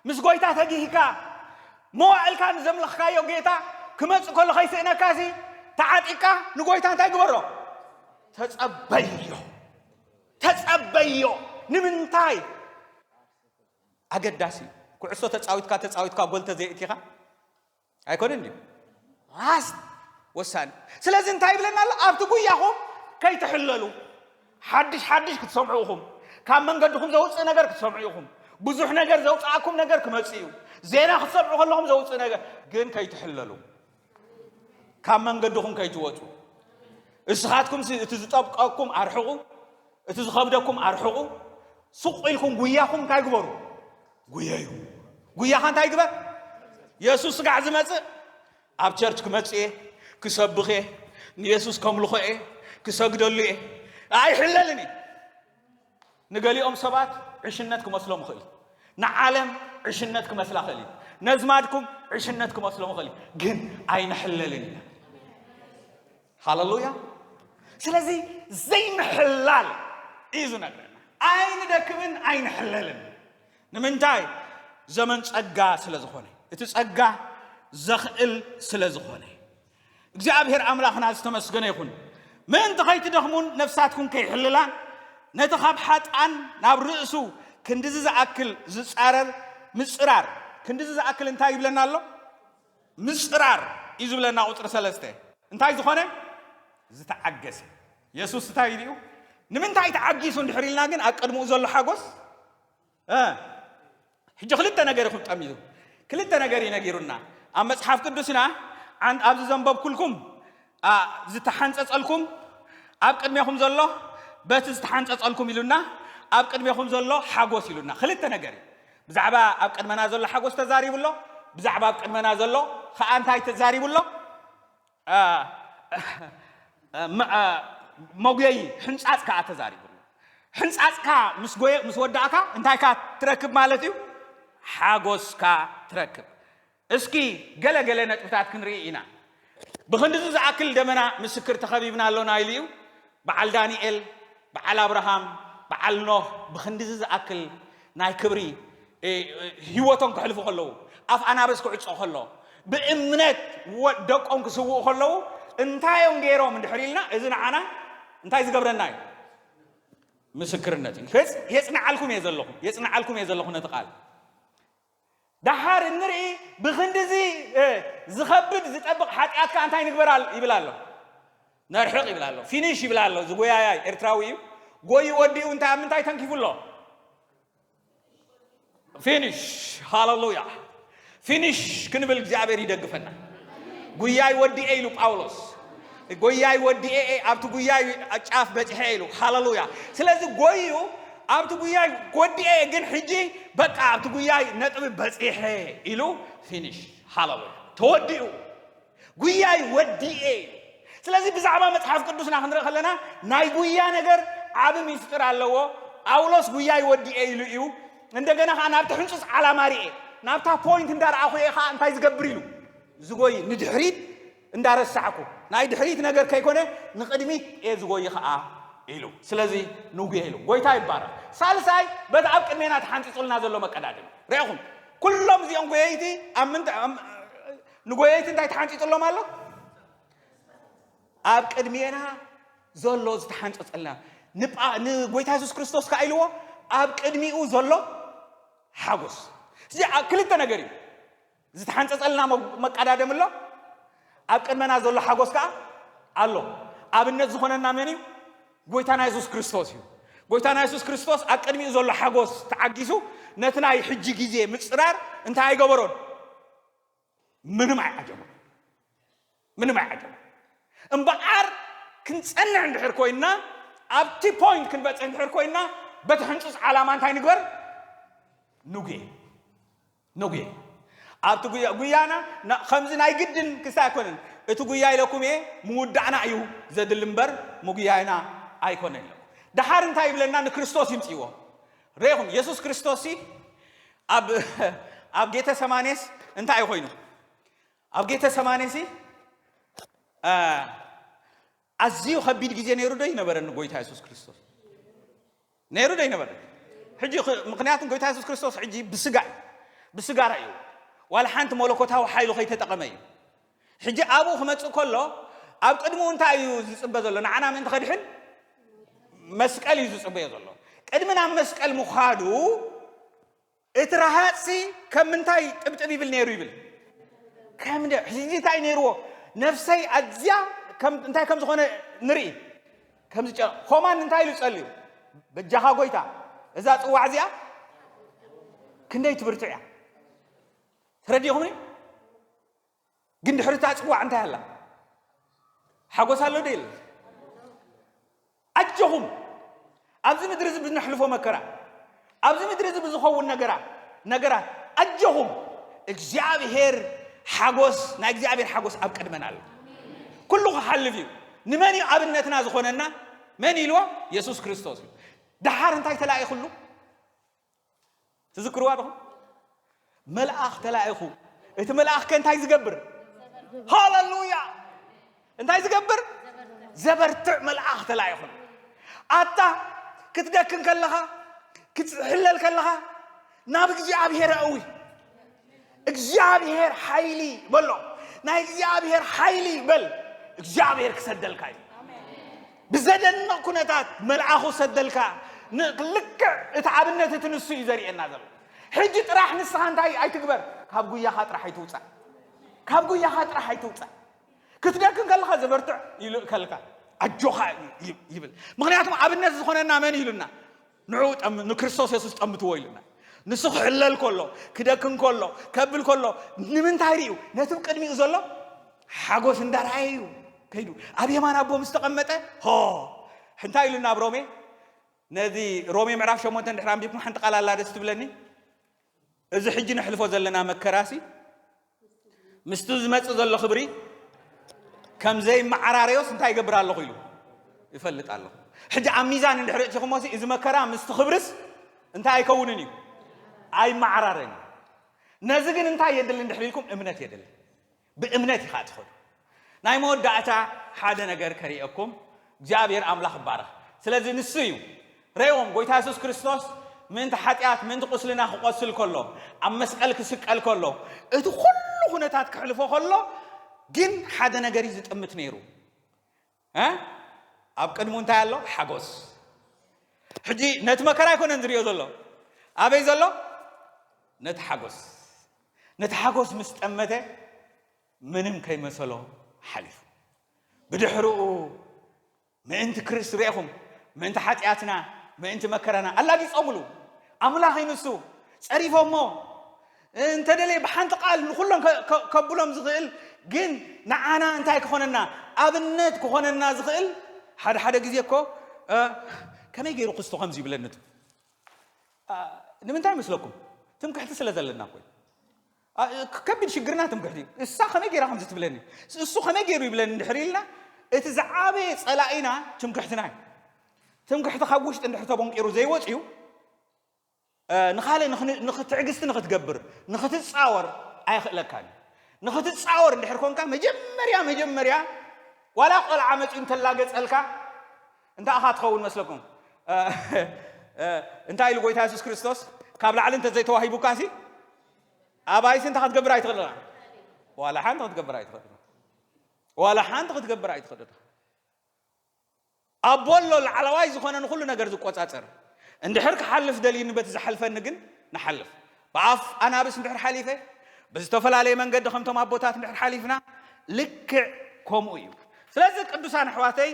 ምስ ጎይታ ተጊህካ መዋእልካ ንዘምለኽካዮ ጌታ ክመጽእ ከሎ ከይስእነካሲ ተዓጢቅካ ንጎይታ እንታይ ግበሮ ተጸበዮ ተጸበዮ ንምንታይ ኣገዳሲ እዩ ኩዕሶ ተጻዊትካ ተጻዊትካ ጎል ተዘይእቲኻ ኣይኮነን ድዩ ራስት ወሳኒ ስለዚ እንታይ ይብለና ኣሎ ኣብቲ ጉያኹም ከይትሕለሉ ሓድሽ ሓድሽ ክትሰምዑ ኢኹም ካብ መንገድኹም ዘውፅእ ነገር ክትሰምዑ ኢኹም ብዙሕ ነገር ዘውፅኣኩም ነገር ክመፅእ እዩ ዜና ክትሰምዑ ከለኹም ዘውፅእ ነገር ግን ከይትሕለሉ ካብ መንገድኹም ከይትወፁ እስኻትኩም እቲ ዝጠብቀኩም ኣርሕቑ እቲ ዝኸብደኩም ኣርሕቑ ስቑ ኢልኩም ጉያኹም እንታይ ግበሩ ጉየዩ ጉያኻ እንታይ ግበር የሱስ ስጋዕ ዝመጽእ ኣብ ቸርች ክመጽእ እየ ክሰብኽ እየ ንየሱስ ከምልኾ እየ ክሰግደሉ እየ ኣይሕለልን እዩ ንገሊኦም ሰባት ዕሽነት ክመስሎም ይኽእል ንዓለም ዕሽነት ክመስላ ኽእል እዩ ነዝማድኩም ዕሽነት ክመስሎም ይኽእል ግን ኣይንሕለልን ኢና ሃለሉያ ስለዚ ዘይምሕላል እዩ ዝነግረና ኣይንደክምን ኣይንሕለልን ንምንታይ ዘመን ጸጋ ስለ ዝኾነ እቲ ጸጋ ዘኽእል ስለ ዝኾነ እግዚኣብሔር ኣምላኽና ዝተመስገነ ይኹን ምእንቲ ከይትደኽሙን ነፍሳትኩም ከይሕልላን ነቲ ካብ ሓጣን ናብ ርእሱ ክንዲዚ ዝኣክል ዝጻረር ምጽራር ክንዲዚ ዝኣክል እንታይ ይብለና ኣሎ ምጽራር እዩ ዝብለና ቁጽሪ ሰለስተ እንታይ ዝኾነ ዝተዓገሰ የሱስ እንታይ ኢሉ እዩ ንምንታይ ተዓጊሱ እንድሕር ኢልና ግን ኣቀድምኡ ዘሎ ሓጎስ ሕጂ ክልተ ነገር እዩ ክብጠም እዩ ክልተ ነገር እዩ ነጊሩና ኣብ መጽሓፍ ቅዱስና ኣብዚ ዘንበብኩልኩም ዝተሓንጸጸልኩም ኣብ ቅድሜኹም ዘሎ በቲ ዝተሓንጸጸልኩም ኢሉና ኣብ ቅድሜኹም ዘሎ ሓጎስ ኢሉና ክልተ ነገር እዩ ብዛዕባ ኣብ ቅድመና ዘሎ ሓጎስ ተዛሪቡ ኣሎ ብዛዕባ ኣብ ቅድመና ዘሎ ከዓ እንታይ ተዛሪቡ ኣሎ መጉየይ ሕንፃፅ ከዓ ተዛሪቡ ኣሎ ሕንፃፅካ ምስ ጎየ ምስ ወዳእካ እንታይካ ትረክብ ማለት እዩ ሓጎስካ ትረክብ እስኪ ገለ ገለ ነጥብታት ክንርኢ ኢና። ብኽንድዚ ዝኣክል ደመና ምስክር ተኸቢብና ኣሎና ኢሉ እዩ። በዓል ዳንኤል፣ በዓል ኣብርሃም፣ በዓል ኖህ ብኽንድዚ ዝኣክል ናይ ክብሪ ህይወቶም ከሕልፉ ከለዉ፣ ኣፍ ኣናብስ ክዕጾ ከሎ፣ ብእምነት ደቆም ክስውኡ ከለዉ እንታይ እዮም ገይሮም እንድሕር ኢልና እዚ ንዓና እንታይ ዝገብረና እዩ? ምስክርነት እዩ። የጽንዓልኩም እየ ዘለኹ የጽንዓልኩም እየ ዘለኹ ነቲ ቃል ደሓር እንርኢ ብኽንድዚ ዝኸብድ ዝጠብቕ ሓጥያት ከኣ እንታይ ንግበር ይብል ኣሎ ነርሕቕ ይብል ኣሎ ፊኒሽ ይብል ኣሎ እዚ ጎያያይ ኤርትራዊ እዩ ጎዩ ወዲኡ እንታይ ኣብ ምንታይ ተንኪፉ ኣሎ ፊኒሽ ሃለሉያ ፊኒሽ ክንብል እግዚኣብሔር ይደግፈና ጉያይ ወዲኤ ኢሉ ጳውሎስ ጎያይ ወዲኤኤ ኣብቲ ጉያይ ጫፍ በጺሐ ኢሉ ሃለሉያ ስለዚ ጎዩ ኣብቲ ጉያይ ወዲኤ ግን ሕጂ በቃ ኣብቲ ጉያይ ነጥቢ በጺሐ ኢሉ ፊኒሽ ሃለሉያ ተወዲኡ ጉያይ ወዲኤ ኢሉ ስለዚ ብዛዕባ መጽሓፍ ቅዱስና ክንርኢ ከለና ናይ ጉያ ነገር ዓቢ ሚስጥር ኣለዎ ጳውሎስ ጉያይ ወዲኤ ኢሉ እዩ እንደገና ከዓ ናብቲ ሕንፁፅ ዓላማ ርኤ ናብታ ፖይንት እንዳረኣኹ እየ ከዓ እንታይ ዝገብር ኢሉ ዝጎይ ንድሕሪት እንዳረሳዕኩ ናይ ድሕሪት ነገር ከይኮነ ንቅድሚት እየ ዝጎይ ኸኣ ኢሉ። ስለዚ ንጉየ ኢሉ። ጎይታ ይባረኽ። ሳልሳይ በቲ ኣብ ቅድሜና ተሓንጺጹልና ዘሎ መቀዳድም ርዕኹም ኩሎም እዚኦም ጎየይቲ ኣብ ምንታይ ኣብ- ንጎየይቲ እንታይ ተሓንጺጹሎም ኣሎ? ኣብ ቅድሜና ዘሎ ዝተሓንጸጸልና ንጳ- ንጎይታ የሱስ ክርስቶስ ከኣ ኢልዎ ኣብ ቅድሚኡ ዘሎ ሓጎስ እዚ ኣ- ክልተ ነገር እዩ ዝተሓንጸጸልና መቃዳደሚ ኣሎ፣ ኣብ ቅድመና ዘሎ ሓጎስ ከኣ ኣሎ። ኣብነት ዝኾነና መን እዩ? ጎይታና የሱስ ክርስቶስ እዩ። ጎይታና የሱስ ክርስቶስ ኣብ ቅድሚኡ ዘሎ ሓጎስ ተዓጊሱ ነቲ ናይ ሕጂ ግዜ ምጽራር እንታይ ኣይገበሮን? ምንም ኣይዓጀቦን። ምንም ኣይዓጀቦን። እምበኣር ክንጸንዕ እንድሕር ኮይንና ኣብቲ ፖይንት ክንበጽሕ እንድሕር ኮይንና በቲ ሕንጹጽ ዓላማ እንታይ ንግበር? ንጉየ። ነጉየ ኣብቲ ጉያ ጉያና ን ከምዚ ናይ ግድን ክስታይ ኣይኮነን እቲ ጉያ ኢለኩም እየ ምውዳዕና እዩ ዘድሊ እምበር ምጉያይና ኣይኮነን ኢለኩም ደሓር እንታይ ይብለና ንክርስቶስ ይምጽእዎ ሬኹም የሱስ ክርስቶስ ሲ ኣብ ኣብ ጌተ ሰማኔስ እንታይ ኮይኑ ኣብ ጌተ ሰማኔ ሲ ኣዝዩ ከቢድ ግዜ ነይሩ ዶ ይነበረ ንጎይታ የሱስ ክርስቶስ ነይሩ ዶ ይነበረ ሕጂ ምክንያቱ ጎይታ የሱስ ክርስቶስ ሕጂ ብስጋ እዩ ብስጋ ራእዩ ዋላ ሓንቲ መለኮታዊ ሓይሉ ከይተጠቐመ እዩ ሕጂ ኣብኡ ክመፅእ ከሎ ኣብ ቅድሚኡ እንታይ እዩ ዝፅበ ዘሎ ንዓና ምእንቲ ከድሕን መስቀል እዩ ዝፅበዮ ዘሎ ቅድሚ ናብ መስቀል ምዃዱ እቲ ረሃጽሲ ከም ምንታይ ጥብጥብ ይብል ነይሩ ይብል ከም ሕጂ እንታይ ነይርዎ ነፍሰይ ኣዝያ እንታይ ከም ዝኾነ ንርኢ ከምዚ ኾማን እንታይ ኢሉ ጸልዩ በጃኻ ጎይታ እዛ ጽዋዕ እዚኣ ክንደይ ትብርትዕ እያ ተረዲኹምኒ ግን ድሕሪ እታ ጽዋዕ እንታይ ኣላ? ሓጎስ ኣሎ ዶ የለን? ኣጆኹም ኣብዚ ምድሪ እዚ ብነሕልፎ መከራ ኣብዚ ምድሪ እዚ ብዝኸውን ነገራ ነገራት ኣጆኹም እግዚኣብሄር ሓጎስ ናይ እግዚኣብሄር ሓጎስ ኣብ ቅድመና ኣሎ ኩሉ ክሓልፍ እዩ ንመን እዩ ኣብነትና ዝኾነና መን ኢልዎ የሱስ ክርስቶስ እዩ ደሓር እንታይ ተላኢኹሉ ትዝክርዋ ዶ? መልኣኽ ተላኢኹ። እቲ መልኣኽ ከ እንታይ ዝገብር? ሃለሉያ! እንታይ ዝገብር? ዘበርትዕ መልኣኽ ተላኢኹ። ኣታ ክትደክም ከለኻ ክትሕለል ከለኻ ናብ እግዚኣብሔር ኣእዊ እግዚኣብሔር ሓይሊ በሎ ናይ እግዚኣብሔር ሓይሊ በል እግዚኣብሔር ክሰደልካ እዩ ብዘደንቕ ኩነታት መልኣኹ ሰደልካ ልክዕ እቲ ኣብነት እቲ ንሱ እዩ ዘርእየና ዘሎ ሕጂ ጥራሕ ንስኻ እንታይ ኣይትግበር ካብ ጉያኻ ጥራሕ ኣይትውፃእ ካብ ጉያኻ ጥራሕ ኣይትውፃእ ክትደክም ከለኻ ዘበርትዕ ይልእከልካ ኣጆኻ ይብል ምክንያቱም ኣብነት ዝኾነና መን ኢሉና ንዕኡ ጠም ንክርስቶስ የሱስ ጠምትዎ ኢሉና ንሱ ክሕለል ከሎ ክደክም ከሎ ከብል ከሎ ንምንታይ ርዩ ነቲ ብ ቅድሚኡ ዘሎ ሓጎስ እንዳረኣየ እዩ ከይዱ ኣብ የማን ኣቦ ምስ ተቐመጠ ሆ እንታይ ኢሉና ኣብ ሮሜ ነዚ ሮሜ ምዕራፍ ሸሞንተ ድሕሪ ኣንቢብኩም ሓንቲ ቃል ኣላ ደስ ትብለኒ እዚ ሕጂ ነሕልፎ ዘለና መከራሲ ምስቲ ዝመጽእ ዘሎ ክብሪ ከም ዘይመዓራረዮስ እንታይ ይገብር ኣለኹ ኢሉ ይፈልጥ ኣለኹ። ሕጂ ኣብ ሚዛን እንድሕሪ እቲኹሞሲ እዚ መከራ ምስቲ ክብርስ እንታይ ኣይከውንን እዩ ኣይመዓራረን እዩ። ነዚ ግን እንታይ የድሊ እንድሕሪ ኢልኩም እምነት የድሊ። ብእምነት ኢኻ ትኸዶ። ናይ መወዳእታ ሓደ ነገር ከርእየኩም እግዚኣብሔር ኣምላኽ ይባረኽ። ስለዚ ንሱ እዩ ረእዎም ጎይታ የሱስ ክርስቶስ ምእንቲ ሓጢኣት ምእንቲ ቁስልና ክቆስል ከሎ ኣብ መስቀል ክስቀል ከሎ እቲ ኩሉ ኩነታት ክሕልፎ ከሎ ግን ሓደ ነገር እዩ ዝጥምት ነይሩ ኣብ ቅድሙ እንታይ ኣሎ? ሓጎስ። ሕጂ ነቲ መከራ ኣይኮነን ዝሪኦ ዘሎ፣ ኣበይ ዘሎ? ነቲ ሓጎስ። ነቲ ሓጎስ ምስ ጠመተ ምንም ከይመሰሎ ሓሊፉ። ብድሕርኡ ምእንቲ ክርስት ርኢኹም፣ ምእንቲ ሓጢኣትና፣ ምእንቲ መከራና ኣላጊጾምሉ ኣምላኽ ይንሱ ጸሪፎሞ እንተደልየ ብሓንቲ ቃል ንኹሎም ከ ከብሎም ዝኽእል ግን ንዓና እንታይ ክኾነና ኣብነት ክኾነና ዝኽእል ሓደ ሓደ ግዜ እኮ ከመይ ገይሩ ክስቶ ከምዚ ይብለኒ ቱ ንምንታይ መስለኩም ትምክሕቲ ስለ ዘለና ኮይ ከቢድ ሽግርና ትምክሕቲ እዩ እሳ ከመይ ገይራ ከምዚ ትብለኒ እሱ ከመይ ገይሩ ይብለኒ እንድሕር ኢልና እቲ ዝዓበየ ጸላኢና ትምክሕትና እዩ ትምክሕቲ ካብ ውሽጢ እንድሕር ተቦንቂሩ ዘይወጽዩ ንኻልእ ንኽ ትዕግስቲ ንኽትገብር፣ ንኽትጻወር ኣየኽእለካን እዩ። ንኽትጻወር እንድሕር ኮንካ መጀመርያ መጀመርያ ዋላ ቆልዓ መጺኡ እንተላገጸልካ እንታይ ኢኻ ትኸውን መስለኩም? እንታይ ኢሉ ጎይታ የሱስ ክርስቶስ ካብ ላዕሊ እንተ ዘይተዋሂቡካሲ ኣባይሲ እንታይ ክትገብር ኣይትኽእል ኢኻ? ዋላ ሓንቲ ክትገብር ኣይትኽእል ኢኻ። ዋላ ሓንቲ ክትገብር ኣይትኽእል ኢኻ። ኣቦ ኣሎ ላዕላዋይ ዝኾነ ንኹሉ ነገር ዝቆጻጸር እንድሕር ክሓልፍ ደልዩኒ በቲ ዝሓልፈኒ ግን ንሓልፍ ብኣፍ ኣናብስ እንድሕር ሓሊፈ ብዝተፈላለየ መንገዲ ከምቶም ኣቦታት እንድሕር ሓሊፍና ልክዕ ከምኡ እዩ ስለዚ ቅዱሳን ኣሕዋተይ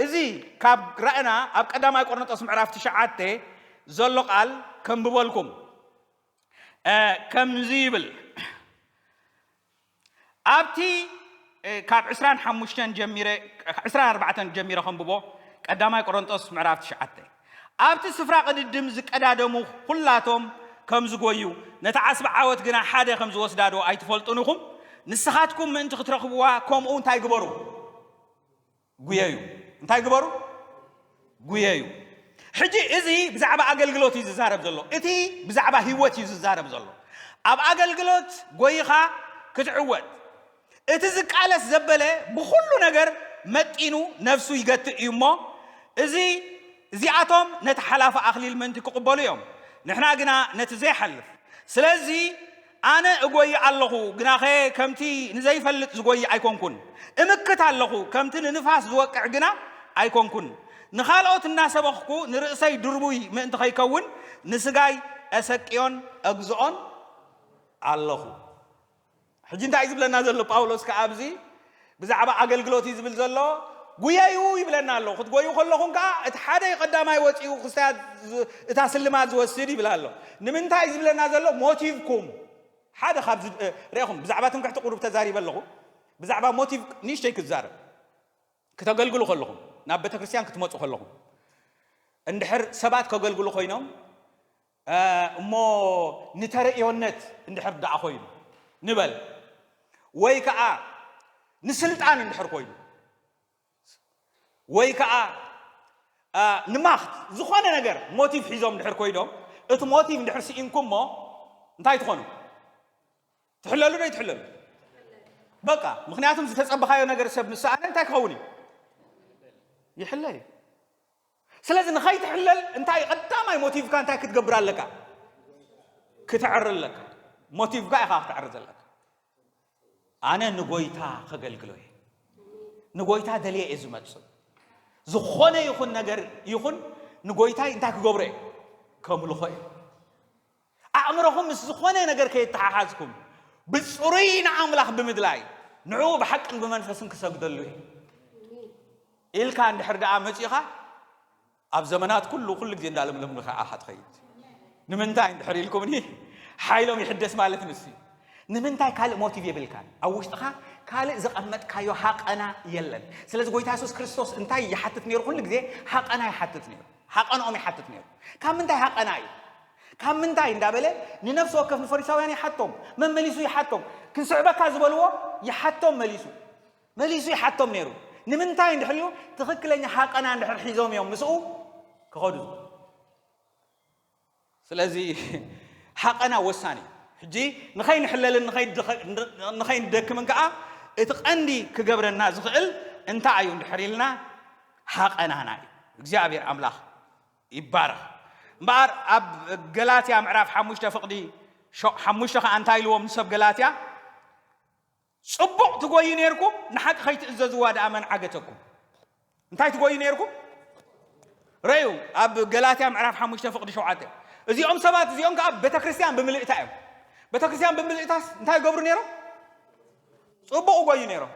እዚ ካብ ራእና ኣብ ቀዳማይ ቆርንጦስ ምዕራፍ ትሽዓተ ዘሎ ቃል ከንብበልኩም ከምዚ ይብል ኣብቲ ካብ ዕስራን ሓሙሽተን ጀሚረ ዕስራን ኣርባዕተን ጀሚረ ከንብቦ ቀዳማይ ቆሮንጦስ ምዕራፍ ትሽዓተ ኣብቲ ስፍራ ቅድድም ዝቀዳደሙ ዅላቶም ከም ዝጐዩ ነታ ዓስቢ ዓወት ግና ሓደ ከም ዝወስዳዶ ኣይትፈልጡን ኢኹም ንስኻትኩም ምእንቲ ክትረኽብዋ ከምኡ እንታይ ግበሩ ጉየዩ እንታይ ግበሩ ጉየዩ ሕጂ እዚ ብዛዕባ ኣገልግሎት እዩ ዝዛረብ ዘሎ እቲ ብዛዕባ ህይወት እዩ ዝዛረብ ዘሎ ኣብ ኣገልግሎት ጎይኻ ክትዕወት እቲ ዝቃለስ ዘበለ ብኩሉ ነገር መጢኑ ነፍሱ ይገትእ እዩ እሞ እዚ እዚኣቶም ነቲ ሓላፊ ኣኽሊል ምእንቲ ክቕበሉ እዮም ንሕና ግና ነቲ ዘይሓልፍ ስለዚ ኣነ እጐዪ ኣሎኹ፣ ግናኸ ከምቲ ንዘይፈልጥ ዝጐዪ ኣይኰንኩን። እምክት ኣሎኹ፣ ከምቲ ንንፋስ ዝወቅዕ ግና ኣይኰንኩን። ንኻልኦት እናሰበኽኩ ንርእሰይ ድርቡይ ምእንቲ ኸይከውን፣ ንስጋይ ኤሰቅዮን ኤግዝኦን ኣሎኹ። ሕጂ እንታይ እዩ ዚብለና ዘሎ ጳውሎስ ከኣ ኣብዚ? ብዛዕባ ኣገልግሎት እዩ ዝብል ዘሎ። ጉየዩ ይብለና ኣሎ። ክትጎዩ ከለኹም ከኣ እቲ ሓደ ቀዳማይ ወጺኡ ክስታያት እታ ስልማት ዝወስድ ይብል ኣሎ። ንምንታይ እዩ ዝብለና ዘሎ? ሞቲቭኩም ሓደ ካብ ርኢኹም ብዛዕባ ትምክሕቲ ቁሩብ ተዛሪበ ኣለኹ። ብዛዕባ ሞቲቭ ንእሽተይ ክዛረብ ክተገልግሉ ከለኹም ናብ ቤተክርስትያን ክትመጹ ከለኹም እንድሕር ሰባት ከገልግሉ ኮይኖም እሞ ንተርእዮነት እንድሕር ደኣ ኮይኑ ንበል ወይ ከኣ ንስልጣን እንድሕር ኮይኑ ወይ ከኣ ንማክት ዝኾነ ነገር ሞቲቭ ሒዞም እንድሕር ኮይኖም እቲ ሞቲቭ እንድሕር ስኢንኩም እሞ እንታይ ትኾኑ ትሕለሉ ዶ ይትሕለሉ በቃ ምክንያቱም ዝተፀበኻዮ ነገር ሰብ ምስ ሰኣነ እንታይ ክኸውን እዩ ይሕለል እዩ ስለዚ ንኸይትሕለል እንታይ እዩ ቀዳማይ ሞቲቭካ እንታይ ክትገብር ኣለካ ክትዕሪ ኣለካ ሞቲቭካ ኢኻ ክትዕሪ ዘለካ ኣነ ንጎይታ ከገልግሎ እየ ንጎይታ ደልየ እየ ዝመፅእ ዝኾነ ይኹን ነገር ይኹን ንጎይታይ እንታይ ክገብሮ እየ ከምልኾ እየ ኣእምሮኹም ምስ ዝኾነ ነገር ከየተሓሓዝኩም ብጽሩይ ንኣምላኽ ብምድላይ ንዕኡ ብሓቅን ብመንፈስን ክሰግደሉ እዩ ኢልካ እንድሕር ደኣ መጺኻ ኣብ ዘመናት ኩሉ ኩሉ ግዜ እንዳለምለም ንኸዓ ኢኻ ትኸይድ ንምንታይ እንድሕር ኢልኩምኒ ሓይሎም ይሕደስ ማለት ንሱ እዩ ንምንታይ ካልእ ሞቲቭ የብልካን ኣብ ውሽጥኻ ካልእ ዘቐመጥካዮ ሃቐና የለን ስለዚ ጎይታ የሱስ ክርስቶስ እንታይ ይሓትት ነይሩ ኩሉ ግዜ ሃቐና ይሓትት ነይሩ ሃቐንኦም ይሓትት ነይሩ ካብ ምንታይ ሃቐና እዩ ካብ ምንታይ እንዳበለ ንነፍሲ ወከፍ ንፈሪሳውያን ይሓቶም መመሊሱ ይሓቶም ክንስዕበካ ዝበልዎ ይሓቶም መሊሱ መሊሱ ይሓቶም ነይሩ ንምንታይ እንድሕሪኡ ትኽክለኛ ሃቀና እንድሕር ሒዞም እዮም ምስኡ ክኸዱ ስለዚ ሃቀና ወሳኒ ሕጂ ንኸይንሕለልን ንኸይንደክምን ከዓ እቲ ቀንዲ ክገብረና ዝኽእል እንታይ እዩ እንድሕር ኢልና ሃቀናና እዩ እግዚኣብሔር ኣምላኽ ይባረኽ እምበኣር ኣብ ገላትያ ምዕራፍ ሓሙሽተ ፍቕዲ ሓሙሽተ ከኣ እንታይ ኢልዎም ንሰብ ገላትያ ጽቡቕ ትጎዩ ነርኩም ንሓቂ ከይትእዘዝዋ ደኣ መን ዓገተኩም እንታይ ትጎዩ ነርኩም ረዩ ኣብ ገላትያ ምዕራፍ ሓሙሽተ ፍቕዲ ሸውዓተ እዚኦም ሰባት እዚኦም ከዓ ቤተ ክርስቲያን ብምልእታ እዮም ቤተ ክርስቲያን ብምልእታስ እንታይ ይገብሩ ነይሮም ፅቡቕ ጎዩ ነይሮም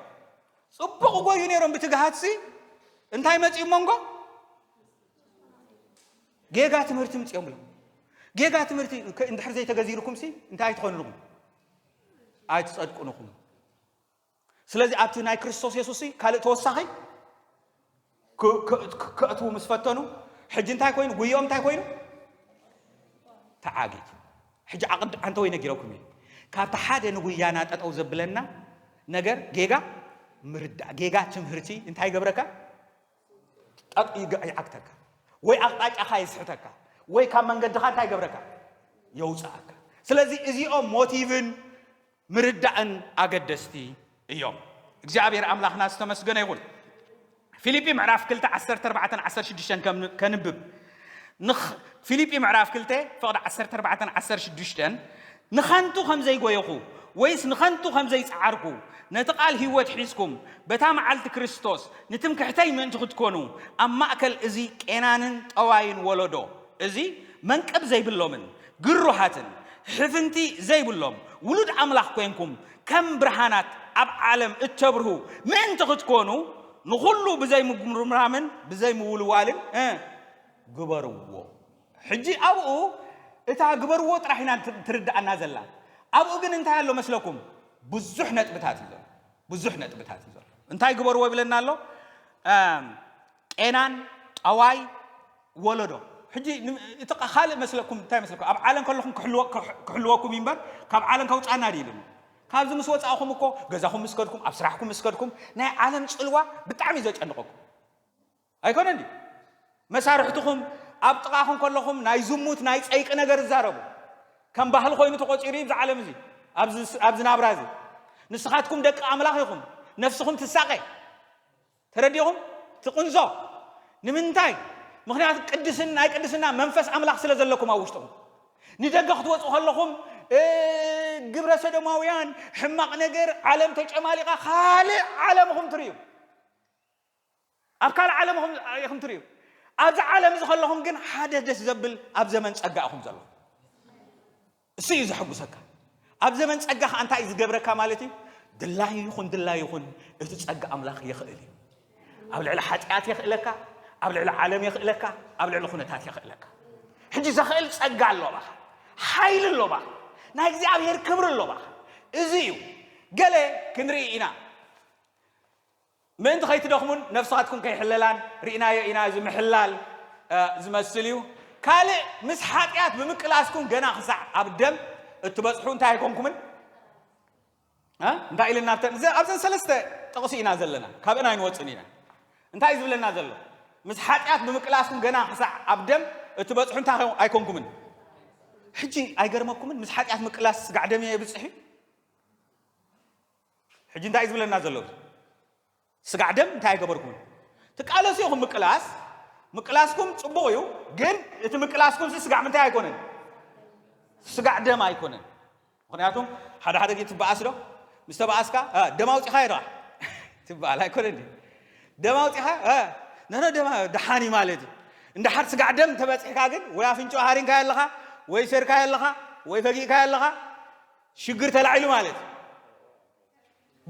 ፅቡቕ ጎዩ ነይሮም ብትግሃትሲ እንታይ መፂኡ መንጎ ጌጋ ትምህርቲ ምፅኦም እዮም ጌጋ ትምህርቲ እንድሕር ዘይተገዚርኩም ሲ እንታይ ኣይትኾንልኹም ኣይትፀድቁንኹም ስለዚ ኣብቲ ናይ ክርስቶስ የሱስ ካልእ ተወሳኺ ከእትዉ ምስ ፈተኑ ሕጂ እንታይ ኮይኑ ጉዮም እንታይ ኮይኑ ተዓጊቱ ሕጂ ዓቕዲ ዓንተ ወይ ነጊረኩም እዩ ካብቲ ሓደ ንጉያና ጠጠው ዘብለና ነገር ጌጋ ምርዳእ ጌጋ ትምህርቲ እንታይ ገብረካ ጠቕ ይግዕ ይዓግተካ ወይ ኣቕጣጫኻ የስሕተካ ወይ ካብ መንገድኻ እንታይ ይገብረካ የውፅኣካ ስለዚ እዚኦም ሞቲቭን ምርዳእን ኣገደስቲ እዮም እግዚኣብሔር ኣምላኽና ዝተመስገነ ይኹን ፊልጲ ምዕራፍ 2 14 16 ከንብብ ንኽ ፊሊጲ ምዕራፍ ክልተ ፍቕዲ ዓሰርተ ኣርባዕተን ዓሰርተ ሽዱሽተን ንኸንቱ ከም ዘይጎየኹ ወይስ ንኸንቱ ከም ዘይጸዓርኩ ነቲ ቃል ህይወት ሒዝኩም በታ መዓልቲ ክርስቶስ ንትምክሕተይ ምእንቲ ክትኮኑ ኣብ ማእከል እዚ ቄናንን ጠዋይን ወለዶ እዚ መንቅብ ዘይብሎምን ግሩሃትን ሕፍንቲ ዘይብሎም ውሉድ ኣምላኽ ኮንኩም ከም ብርሃናት ኣብ ዓለም እተብርሁ ምእንቲ ኽትኰኑ፣ ንዅሉ ብዘይምጕርምራምን ብዘይምውልዋልን እ ግበርዎ። ሕጂ ኣብኡ እታ ግበርዎ ጥራሕ ኢና ትርድኣና ዘላ። ኣብኡ ግን እንታይ ኣሎ መስለኩም? ብዙሕ ነጥብታት እዩ ዘሎ። ብዙሕ ነጥብታት እዩ ዘሎ። እንታይ ግበርዎ ይብለና ኣሎ? ቄናን ጠዋይ ወለዶ ሕጂ እቲ ካልእ መስለኩም እንታይ መስለኩም ኣብ ዓለም ከለኹም ክሕልወኩም እዩ እምበር ካብ ዓለም ከውፃና ድዩ ኢሉኒ ካብዚ ምስ ወፃእኹም እኮ ገዛኹም ምስ ከድኩም ኣብ ስራሕኩም ምስ ከድኩም ናይ ዓለም ፅልዋ ብጣዕሚ እዩ ዘጨንቐኩም ኣይኮነን ድዩ መሳርሕትኹም ኣብ ጥቓኹም ከለኹም ናይ ዝሙት ናይ ፀይቂ ነገር ይዛረቡ ከም ባህሊ ኮይኑ ተቆፂሩ እዩ ብዚ ዓለም እዚ ኣብዚ ናብራ እዚ ንስኻትኩም ደቂ ኣምላኽ ኢኹም ነፍስኹም ትሳቐ ተረዲእኹም እቲ ቅንዞ ንምንታይ ምኽንያቱ ቅድስን ናይ ቅድስና መንፈስ ኣምላኽ ስለ ዘለኩም ኣብ ውሽጥኹም ንደገ ክትወፁ ከለኹም ግብረ ሰዶማውያን ሕማቕ ነገር ዓለም ተጨማሊቓ ካልእ ዓለምኹም ትርእዩ ኣብ ካልእ ዓለምኹም ኢኹም ትርእዩ ኣብዚ ዓለም እዚ ከለኹም ግን ሓደ ደስ ዘብል ኣብ ዘመን ጸጋ ኢኹም ዘለኹም እሱ እዩ ዘሐጉሰካ ኣብ ዘመን ጸጋ ከኣ እንታይ እዩ ዝገብረካ ማለት እዩ ድላዩ ይኹን ድላዩ ይኹን እቲ ጸጋ ኣምላኽ የኽእል እዩ ኣብ ልዕሊ ሓጢኣት የኽእለካ ኣብ ልዕሊ ዓለም የኽእለካ ኣብ ልዕሊ ኩነታት የኽእለካ ሕጂ ዘኽእል ጸጋ ኣሎ ባኻ ሓይሊ ኣሎ ባኻ ናይ እግዚኣብሄር ክብሪ ኣሎ ባኻ እዚ እዩ ገለ ክንርኢ ኢና ምእንቲ ከይትደኽሙን ነፍሳትኩም ከይሕለላን ርኢናዮ ኢና እዚ ምሕላል ዝመስል እዩ ካልእ ምስ ሓጢኣት ብምቅላስኩም ገና ክሳዕ ኣብ ደም እትበጽሑ እንታይ ኣይኮንኩምን እንታይ ኢልና ኣብዘን ሰለስተ ጥቕሲ ኢና ዘለና ካብእን ኣይንወፅን ኢና እንታይ እዩ ዝብለና ዘሎ ምስ ሓጢኣት ብምቅላስኩም ገና ክሳዕ ኣብ ደም እትበጽሑ እንታይ ኣይኮንኩምን ሕጂ ኣይገርመኩምን ምስ ሓጢኣት ምቅላስ ስጋዕ ደም እየ የብፅሕ እዩ ሕጂ እንታይ እዩ ዝብለና ዘሎ እዚ ስጋዕ ደም እንታይ ኣይገበርኩምን ትቃለሱ ኢኹም ምቅላስ ምቅላስኩም ጽቡቕ እዩ ግን እቲ ምቅላስኩም ሲ ስጋዕ ምንታይ ኣይኮነን ስጋዕ ደም ኣይኮነን ምክንያቱም ሓደ ሓደ ግዜ ትበኣስ ዶ ምስ ተበኣስካ ደም ኣውፂኻ ይረኣ ትበሃል ኣይኮነን ድዩ ደም ኣውፂኻ ነነ ደማ ደሓን እዩ ማለት እዩ እንዳሓር ስጋዕ ደም ተበፂሕካ ግን ወይ ኣፍንጮ ሃሪንካዮ ኣለኻ ወይ ሰርካዮ ኣለኻ ወይ ፈጊእካዮ ኣለኻ ሽግር ተላዒሉ ማለት እዩ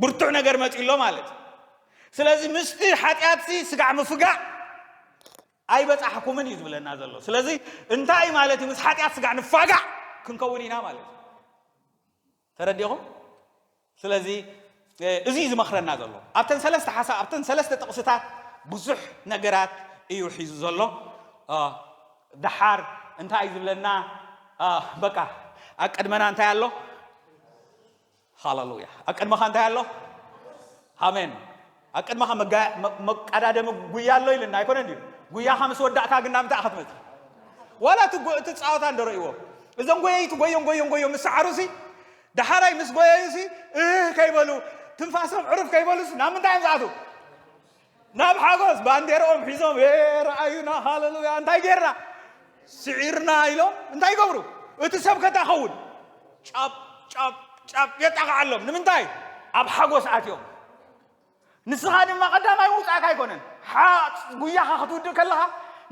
ብርቱዕ ነገር መፅኡ ኣሎ ማለት እዩ ስለዚ ምስቲ ሓጢኣትሲ ስጋዕ ምፍጋዕ ኣይበፃሕኩምን እዩ ዝብለና ዘሎ ስለዚ እንታይ እዩ ማለት እዩ ምስ ሓጢኣት ስጋዕ ንፋጋዕ ክንከውን ኢና ማለት እዩ ተረዲኹም ስለዚ እዚ እዩ ዝመኽረና ዘሎ። ኣብተን ሰለስተ ሓሳብ ኣብተን ሰለስተ ጥቕስታት ብዙሕ ነገራት እዩ ሒዙ ዘሎ። ደሓር እንታይ እዩ ዝብለና? በቃ ኣብ ቅድመና እንታይ ኣሎ? ሃለሉያ! ኣብ ቅድመኻ እንታይ ኣሎ? ኣሜን! ኣብ ቅድመኻ መቀዳደሚ ጉያ ኣሎ ኢልና ኣይኮነን እዩ። ጉያኻ ምስ ወዳእካ ግን ናብ እንታይ ክትመፅ? ዋላ እቲ ፃወታ እንደረእዎ እዞም ጎየይቲ ጎዮም ጎዮም ጎዮም ምስ ሰዓሩሲ ዳሓራይ ምስ ጎየዩሲ እህህ ከይበሉ ትንፋሶም ዕርፍ ከይበሉስ ናብ ምንታይ እዮም ዝኣትው? ናብ ሓጎስ ባንዴርኦም ሒዞም ኤ ረኣዩና ሃለሉያ እንታይ ጌርና ስዒርና ኢሎም እንታይ ይገብሩ? እቲ ሰብከታ ኸውን ጫብ ጫብ ጫብ የጣቕዓሎም ንምንታይ? ኣብ ሓጎስ ኣትዮም ንስኻ ድማ ቀዳማይ ምውጻእካ ኣይኮነን። ሓ ጉያኻ ክትውድእ ከለኻ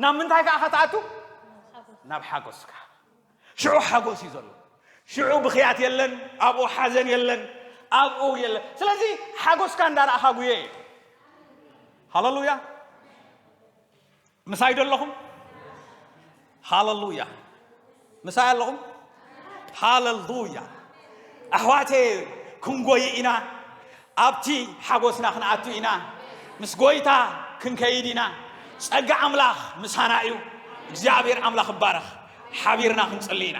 ናብ ምንታይ ከኣ ከትኣቱ? ናብ ሓጎስካ። ሽዑ ሓጎስ እዩ ዘሎ። ሽዑ ብኽያት የለን፣ ኣብኡ ሓዘን የለን፣ ኣብኡ የለን። ስለዚ ሓጎስካ እንዳረኣኻ ጉየ። ሃለሉያ! ምሳይ ዶ ኣለኹም? ሃለሉያ ምሳይ ኣለኹም? ሃለሉያ ኣሕዋቴ ክንጎይ ኢና ኣብቲ ሓጎስና ክንኣቱ ኢና ምስ ጎይታ ክንከይድ ኢና ጸጋ ኣምላኽ ምሳና እዩ እግዚኣብሔር ኣምላኽ ይባረኽ ሓቢርና ክንጽሊ ኢና